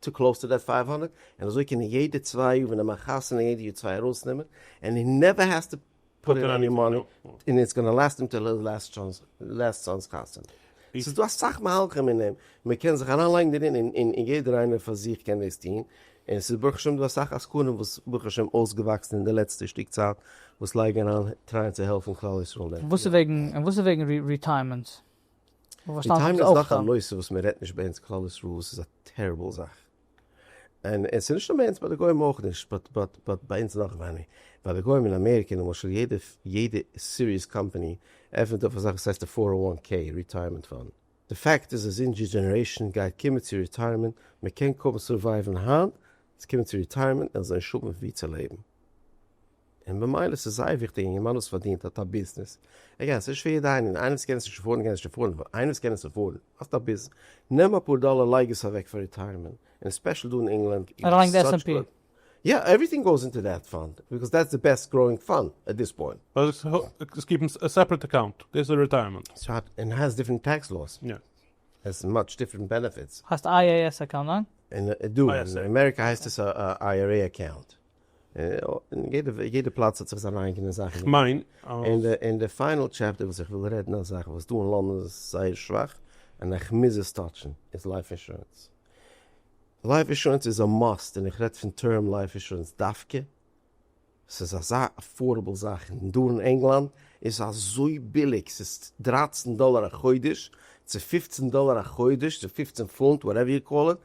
צו קלאוס טו דעט פייוו האנדערט, און אזוי קענען יעדע צוויי יאר ווען די מאכט חתונה יעדע יאר צוויי ארויסנעמען, ענד הי נעווער העז טו פוט אין עני מאני, און איטס גאנא לאסט אים טיל היז לאסט טשאנס, לאסט סאן'ס חתונה. ס'איז דא אסאך מהלכים אין דעם, מען קען זיך אריין לייגן דערין, און יעדער איינער פאר זיך קען דאס טון, און ס'איז ברוך השם דא אסאך עסקנים וואס ברוך השם אויסגעוואקסן אין די לעצטע שטיק צייט, וואס לייגן אריין טרייען צו העלפן כלל ישראל אין דעם. און וואס איז וועגן ריטייערמענט? די טיימליין איז דאך א נושא וואס מען רעדט נישט ביי אונז כלל ישראל וואס איז א טעריבל זאך. און עס איז נישט נאר ביי אונז ביי די גוים אויך נישט באט באט באט ביי אונז נאך ווייני. ביי די גוים אין אמעריקע למשל יעדע יעדע סיריעס קאמפאני עפענט אויף אזאך וואס הייסט די פאר און וואן קעי ריטייערמענט פאנד. די פאקט איז אז אונז'ר דזשענערעישאן גייט קומען צו ריטייערמענט, מען קען קוים סורווייווען היינט, עס קומען צו ריטייערמענט און עס זאל נישט האבן ווי צו לעבן. און במילא ס'איז זייער וויכטיג אינגערמאן וואס פארדינט האט א ביזנעס, ער קען עס נישט פאר יעדע ענין, איינער וואס קען עס נישט ערפארדן קען עס נישט ערפארדן, אבער איינער וואס קען עס ערפארדן האסט א ביז, נעם אפאר דאלער לייג עס אוועק פאר ריטייערמענט, און ספעשל דא אין ענגלאנד איז עס סאטש א גוד, יא עווריטינג גאוס אינטו דעט פאנד, ביקאוז דעטס די בעסט גראוינג פאנד עט דיס פוינט. עס קיפן א סעפרעט אקאונט, דאס איז ריטייערמענט. און האסט דיפרענט טעקס לאוס. יא. האסט מאטש דיפרענט בענעפיטס. האסט IAS אקאונט, ניין? און דא אין אמעריקא הייסט עס א IRA אקאונט. יעדע פלאץ האט זיך זיינע אייגענע זאכן. כ'מיין אז. אין די פיינעל טשעפטער וואס איך וויל רעדן א זאך וואס דא אין לאנדאן איז זייער שוואך און איך מוז עס טאטשן איז לייף אינשורענס. לייף אינשורענס איז א מאסט און איך רעד פון טערם לייף אינשורענס דווקא. ס'איז אזא עפארדעבל זאך און דא אין ענגלאנד איז עס אזוי ביליג ס'איז דרײַצן דאלער א חודש צו פֿופֿצן דאלער א חודש צו פֿופֿצן פונט וואטעווער יו קאל איט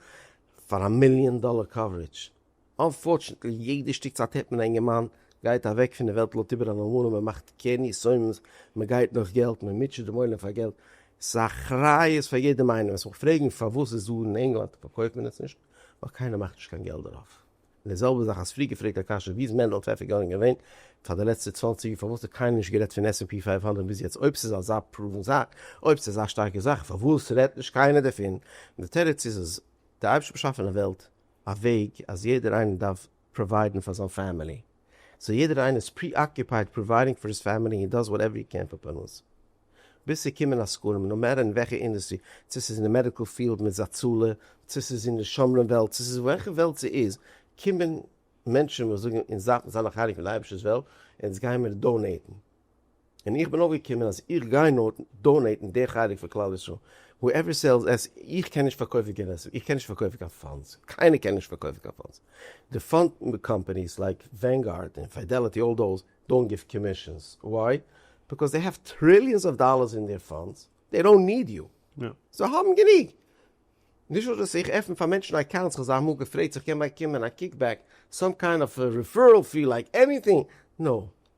פאר א מיליאן דאלער קאווערידזש. אנפארטשענטלי יעדע שטיק צייט הערט מען א אינגערמאן גייט אוועק פון די וועלט לויט איבער א נארמאלע מען מאכט קרן יסודות מען גייט נאך געלט מען מוטשעט דעם עולם פאר געלט ס'איז א אחריות פאר יעדעם איינעם וועסט מיך פרעגן פארוואס איז דא אין ענגלאנד פארקויפט מען עס נישט ווייל קיינער מאכט נישט קיין געלט דערויף און די זעלבע זאך האסט פריער געפרעגט א קשיא ווי איז מענדל פעפער גארן געווען פאר די לעצטע צוואַנציק יאר פארוואס האט קיינער נישט גערעדט פון עס ענד פי פֿינף הונדערט ביז יעצט אויב ס'איז אזא פראוון זאך אויב ס'איז אזא שטארקע זאך פארוואס רעדט נישט קיינער דערפון און די תירוץ איז אז די אייבערשטער באשאפען א וועלט א וועג אז יעדער איינער דארף פראוויידן פאר זיין פעמילי, סאו יעדער איינער איז פרי-אקופייד פראוויידינג פאר היז פעמילי און דאז וואטעווער הי קען פארפארנס ביז ס'קומען א סקרים, נאו מעטער אין וועלכע אינדעסטרי, צו ס'איז אין די מעדיקל פיעלד מיט זאצאלע, צו ס'איז אין די שומרים וועלט, צו ס'איז וועלכע וועלט ס'איז, קומען מענטשן וואס זאגן אונז דארפן זיין א חלק פון די אייבערשטער'ס וועלט און אונז גיימיר דאנעיטן. און איך בין אויפגעקומען אז איך גיי נאר דאנעיטן די חלק פון כלל ישראל, הועווער סעלס עס, איך קען נישט פארקויפן קיין עסק, איך קען נישט פארקויפן קיין פאנדס, קיינער קען נישט פארקויפן קיין פאנדס, די פאנד קאמפעניס לייק ווענגארד און פידעליטי אלל דאוז דאונט גיוו קאמישענס, וואי? ביקאוז זיי העוו טריליאנס אוו דאללערס אין דעיר פאנדס, זיי דאונט ניד יו, זיי האבן גענוג, נישט נאר דאס איך עפן פאר מענטשן אקאונטס, כ'האב זיי אמאל געפרעגט צו כ'קען באקומען א קיקבעק, סאם קיינד אוו רעפערעל פי לייק עניטינג, נאו,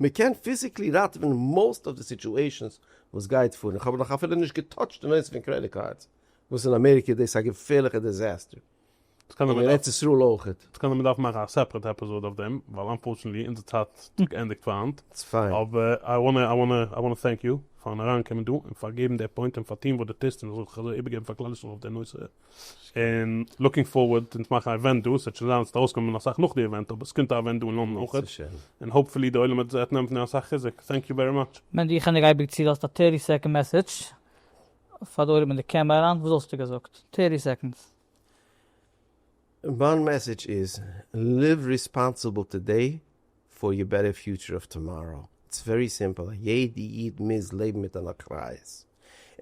מען קען פיזיקלי ראטעווען מאוסט אוו די סיטועשאנס וואס גייט פאר און כ'האב נאך אפילו נישט געטאטשט די נושא פון קרעדיט קארדס וואס אין אמעריקע איז דאס א געפערליכע דיזעסטער און אין ארץ ישראל אויכעט. ס'קען זיין מ'דארף מאכן א סעפערעט עפיזאד אויף דעם ווייל אנפארטשענעטלי אונזער צייט האט געענדיגט פאר היינט. איטס פיין. אבער איי וואנע איי וואנע איי וואנע טענק יו פארן אריינקומען דא און פארגעבן די פוינט און פארטון וואס דו טוסט און זאל זיך אזוי איבערגעבן פאר כלל ישראל אויף די נושא. און לוקינג פארווארד, אונז מאכן א אווענט דא, ס'וועט שוין זיין אז ס'וועט ארויסקומען אסאך נאך די אווענט, אבער ס'קומט א אווענט דא אין לאנדאן אויך, און האופפולי די עולם וועט זיך נעמען פון דעם אסאך חיזוק, טענק יו ווערי מאטש. מענדי איך העניג אייביג צו לאזט א טערטי סעקאנד מעסעדזש פאר די עולם אין די קעמרע אריין וואס וואלסטו געזאגט? טערטי סעקאנדס. מיין מעסעדזש איז, ליוו ריספאנסיבל טודעי, פאר יור בעטער פיוטשער אוו טאמאראו. איטס ווערי סימפעל א יעדע איד מוז לעבן מיט אן אחריות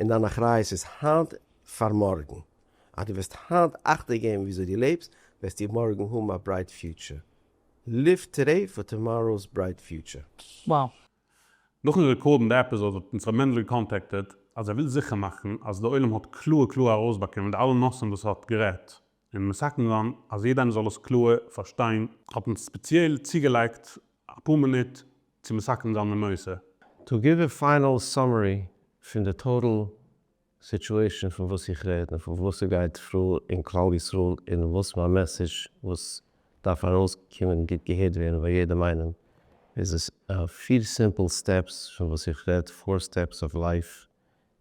און דיין אחריות איז היינט פאר מארגן אז דו וועסט היינט אכטונג געבן וויאזוי דו לעבסט וועסטו מארגן האבן א ברייט פיוטשער ליוו טודעי פאר טאמאראו'ס ברייט פיוטשער. Wow. נאכן רעקארדן די עפיזאד האט אונז ר' מענדל געקאנטעקטעד אז ער וויל זיכער מאכן אז די עולם האט קלאר קלאר ארויסבאקומען די אלע נושאים וואס ער האט גערעדט, און מסכּן זײַן, אַז יעדער איינער זאָל עס קלאָר פֿאַרשטיין, האָט מען ספּעציעל צוגעלייגט אַ פּאָר מינוט צו מסכּן זײַן די נושא. טו גיוו אַ פֿײַנעל סאַמערי פֿון די טאָטעל סיטועשאָן פֿון וואָס איך רעד און פֿון וואָס ס'גייט פֿאָר אין כּלל ישראל און וואָס מײַן מעסעדזש וואָס דאַרף אַרויסקומען גוט געהערט ווערן בײַ יעדעם איינעם איז עס. פֿיר סימפּל סטעפּס פֿון וואָס איך רעד, פֿאָר סטעפּס אָוו לײַף,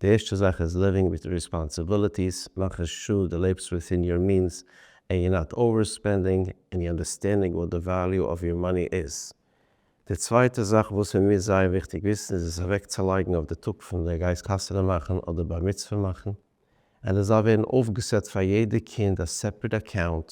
די ערשטע זאך איז ליווינג וויט די ריספאנסעבילעטיס, מאכן שור די לעבסט וויטין יור מינס ענד יור נאט אווער ספענדינג ענד יור אנדערסטענדינג וואט די וועליו אוו יור מאני איז. די צווייטע זאך וואס מען מוז זייער וויכטיג וויסן איז עס אוועקצולייגן אויף די טאג פון די גייסט חתונה מאכן אדער בר מצוה מאכן, ענד עס זאל ווערן אויפגעסעט פאר יעדע קינד א סעפרעט אקאונט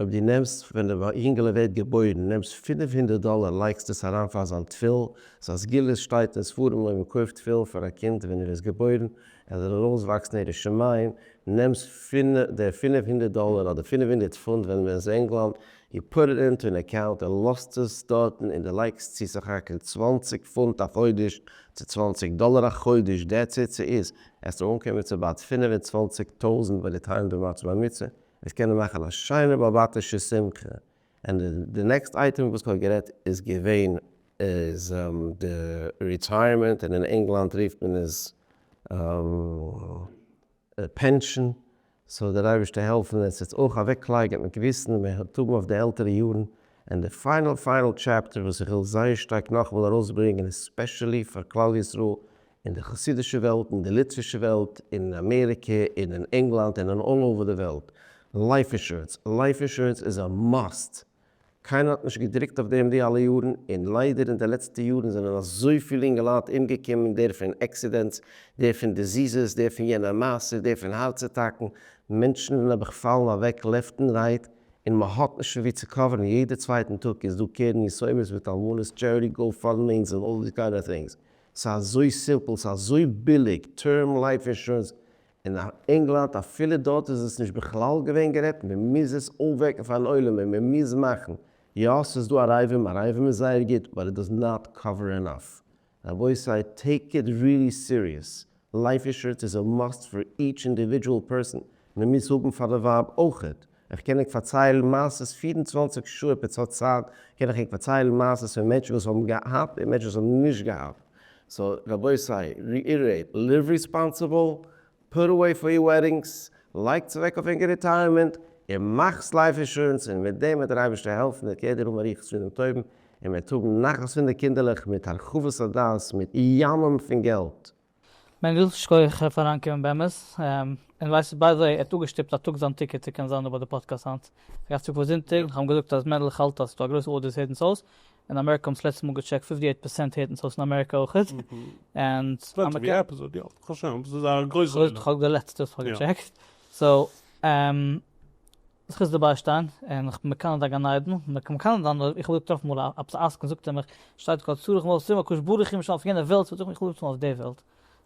אויב דו נעמסט ווען די יונגעלע ווערט געבוירן נעמסט פֿינף הונדערט דאלער לייגסט עס אריין פאר זיין תפילין, סא א סגולה שטייט אין ספרים אויב מען קויפט תפילין פאר א קינד ווען ער איז געבוירן ער זאל ארויס וואקסן ירא שמים, נעמסט פון די פֿינף הונדערט דאלער אדער פֿינף הונדערט פונט ווען מען איז ענגלאנד, יו פוט איט אינטו אן אקאונט און לאזט עס דארטן און די לייגסט צו סך הכל צוואַנציק פונט א חודש צו צוואַנציק דאלער א חודש דעטס איט סאיז עסטו אנקומען צו באט פֿינף און צוואַנציק טויזענט ביי די טיים דו מאכסט בר מצוה. וועסט קענען מאכן א שיינע באבאטישע שמחה, ענד די נעקסט אייטעם וואס כהאב גערעדט איז געווען איז די ריטייערמענט און אין ענגלאנד רופט מען עס פענשען, סאו דער אייבערשטער העלפן עס איז אויך אוועקלייגן מיט געוויסן מען האט האבן אויף די עלטערע יארן, ענד די פיינעל פיינעל טשעפטער וואס איך וויל זייער שטארק נאכאמאל ארויסברענגען איז ספעשעלי פאר כלל ישראל אין די חסידישע וועלט, אין די ליטווישע וועלט, אין אמעריקע, און אין ענגלאנד, און אין אלל אווער די וועלט. לייף אינשורענס, לייף אינשורענס איז א מאסט! קיינער האט נישט געדרוקט אויף דעם די אלע יארן, און ליידער אין די לעצטע יארן זענען אזויפיל אינגעלייט אומגעקומען, דער פון עקסידענטס, דער פון דיזיזעס, דער פון יענע מעשה, דער פון הארץ אטאקן, מענטשן זענען נעבעך פאלן אוועק לעפט און רייט, און מען האט נישט פון ווי צו קאווערן, יעדע צווייטן טאג איז דא קרן יתומים מיט אלמנות, טשעריטי, גאו פאנד מענס, און אלל די קיינע טינגס. ס'איז אזוי סימפל, ס'איז אזוי ביליג, טערם לייף אינשורענס אין ענגלאנד, אפילו דארט איז עס נישט בכלל געווען גערעדט, מען מוז עס אויפוועקן פארן עולם און מען מוז מאכן, יא ס'איז דא א רעיווען, א רעיווען איז זייער גוט, באט איט דאז נאט קאווער ענאף, רבותי טעיק איט ריעלי סיריעס, לייף אינשורענס איז א מאסט פאר איטש אינדיווידזשועל פערסאן, מען מוז האבן פאר די ווייב אויכעט, איך קען ענק פארציילן מעשות פֿיר און צוואַנציק שעה אויב עטס האט צייט קען איך ענק פארציילן מעשות פון מענטשן וואס האבן געהאט און מענטשן וואס האבן נישט געהאט סא רבותי ריאירעיט ליוו ריספאנסיבל פוט אוועי פאר יור וועדינגס לייגטס אוועק אויף ענקער ריטייערמענט און מאכטס לייף אינשורענס און מיט דעם וועט דער אייבערשטער העלפן דער קעדער האבן ריחות פון דעם טובים און מען וועט האבן נחת פון די קינדערלעך מיט הרחבת הדעת מיט ימים פון געלט. מענדל, שכויעך פארן אנקומען באמת. און ווייסט ביי די וועי, ער האט אפגעשטופט א טאג זיין טיקעט צו קענען זיין דא ביי די פאדקעסט היינט. אגב צו כבוד זונטאג, איך האב אים געזאגט אז מענדל איך האלט אז ס'איז דא א גרויסע אודיענס הערט אונז אויס, אין אמעריקע האבן עס לעצטע מאל געטשעקט פֿופֿטי עיט פערסענט הערט אונז אויס אין אמעריקע אויכעט, און אז מ'קען. ווי עפיזאד יא, כ'האב שוין, ס'איז א גרויסע. כ'האב די לעצטע וואס כ'האב געטשעקט, סאו. זיך איז דערביי שטיין, און איך בין מקנא דיין גן עדן, און איך בין מקנא דיין, איך האב געטראפן אמאל א עפעס א עסקן זאגט ער מיך, שטייט כל צריך מות סיום הקדוש ברוך הוא משאל פון יענע וועלט, זאג איך איך וויל נישט האבן אויף די וועלט,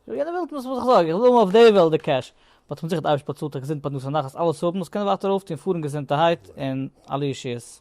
וויל יענע וועלט נישט וואס איך זאג, איך וויל האבן אויף די וועלט די קעש, באט כ'בין זיכער די אייבערשטער באצאלט א געזונט פרנסה נחת אלעס האבן וואס קענען ווייטער אויפטון פארן געזונטערהייט און אלע ישועות.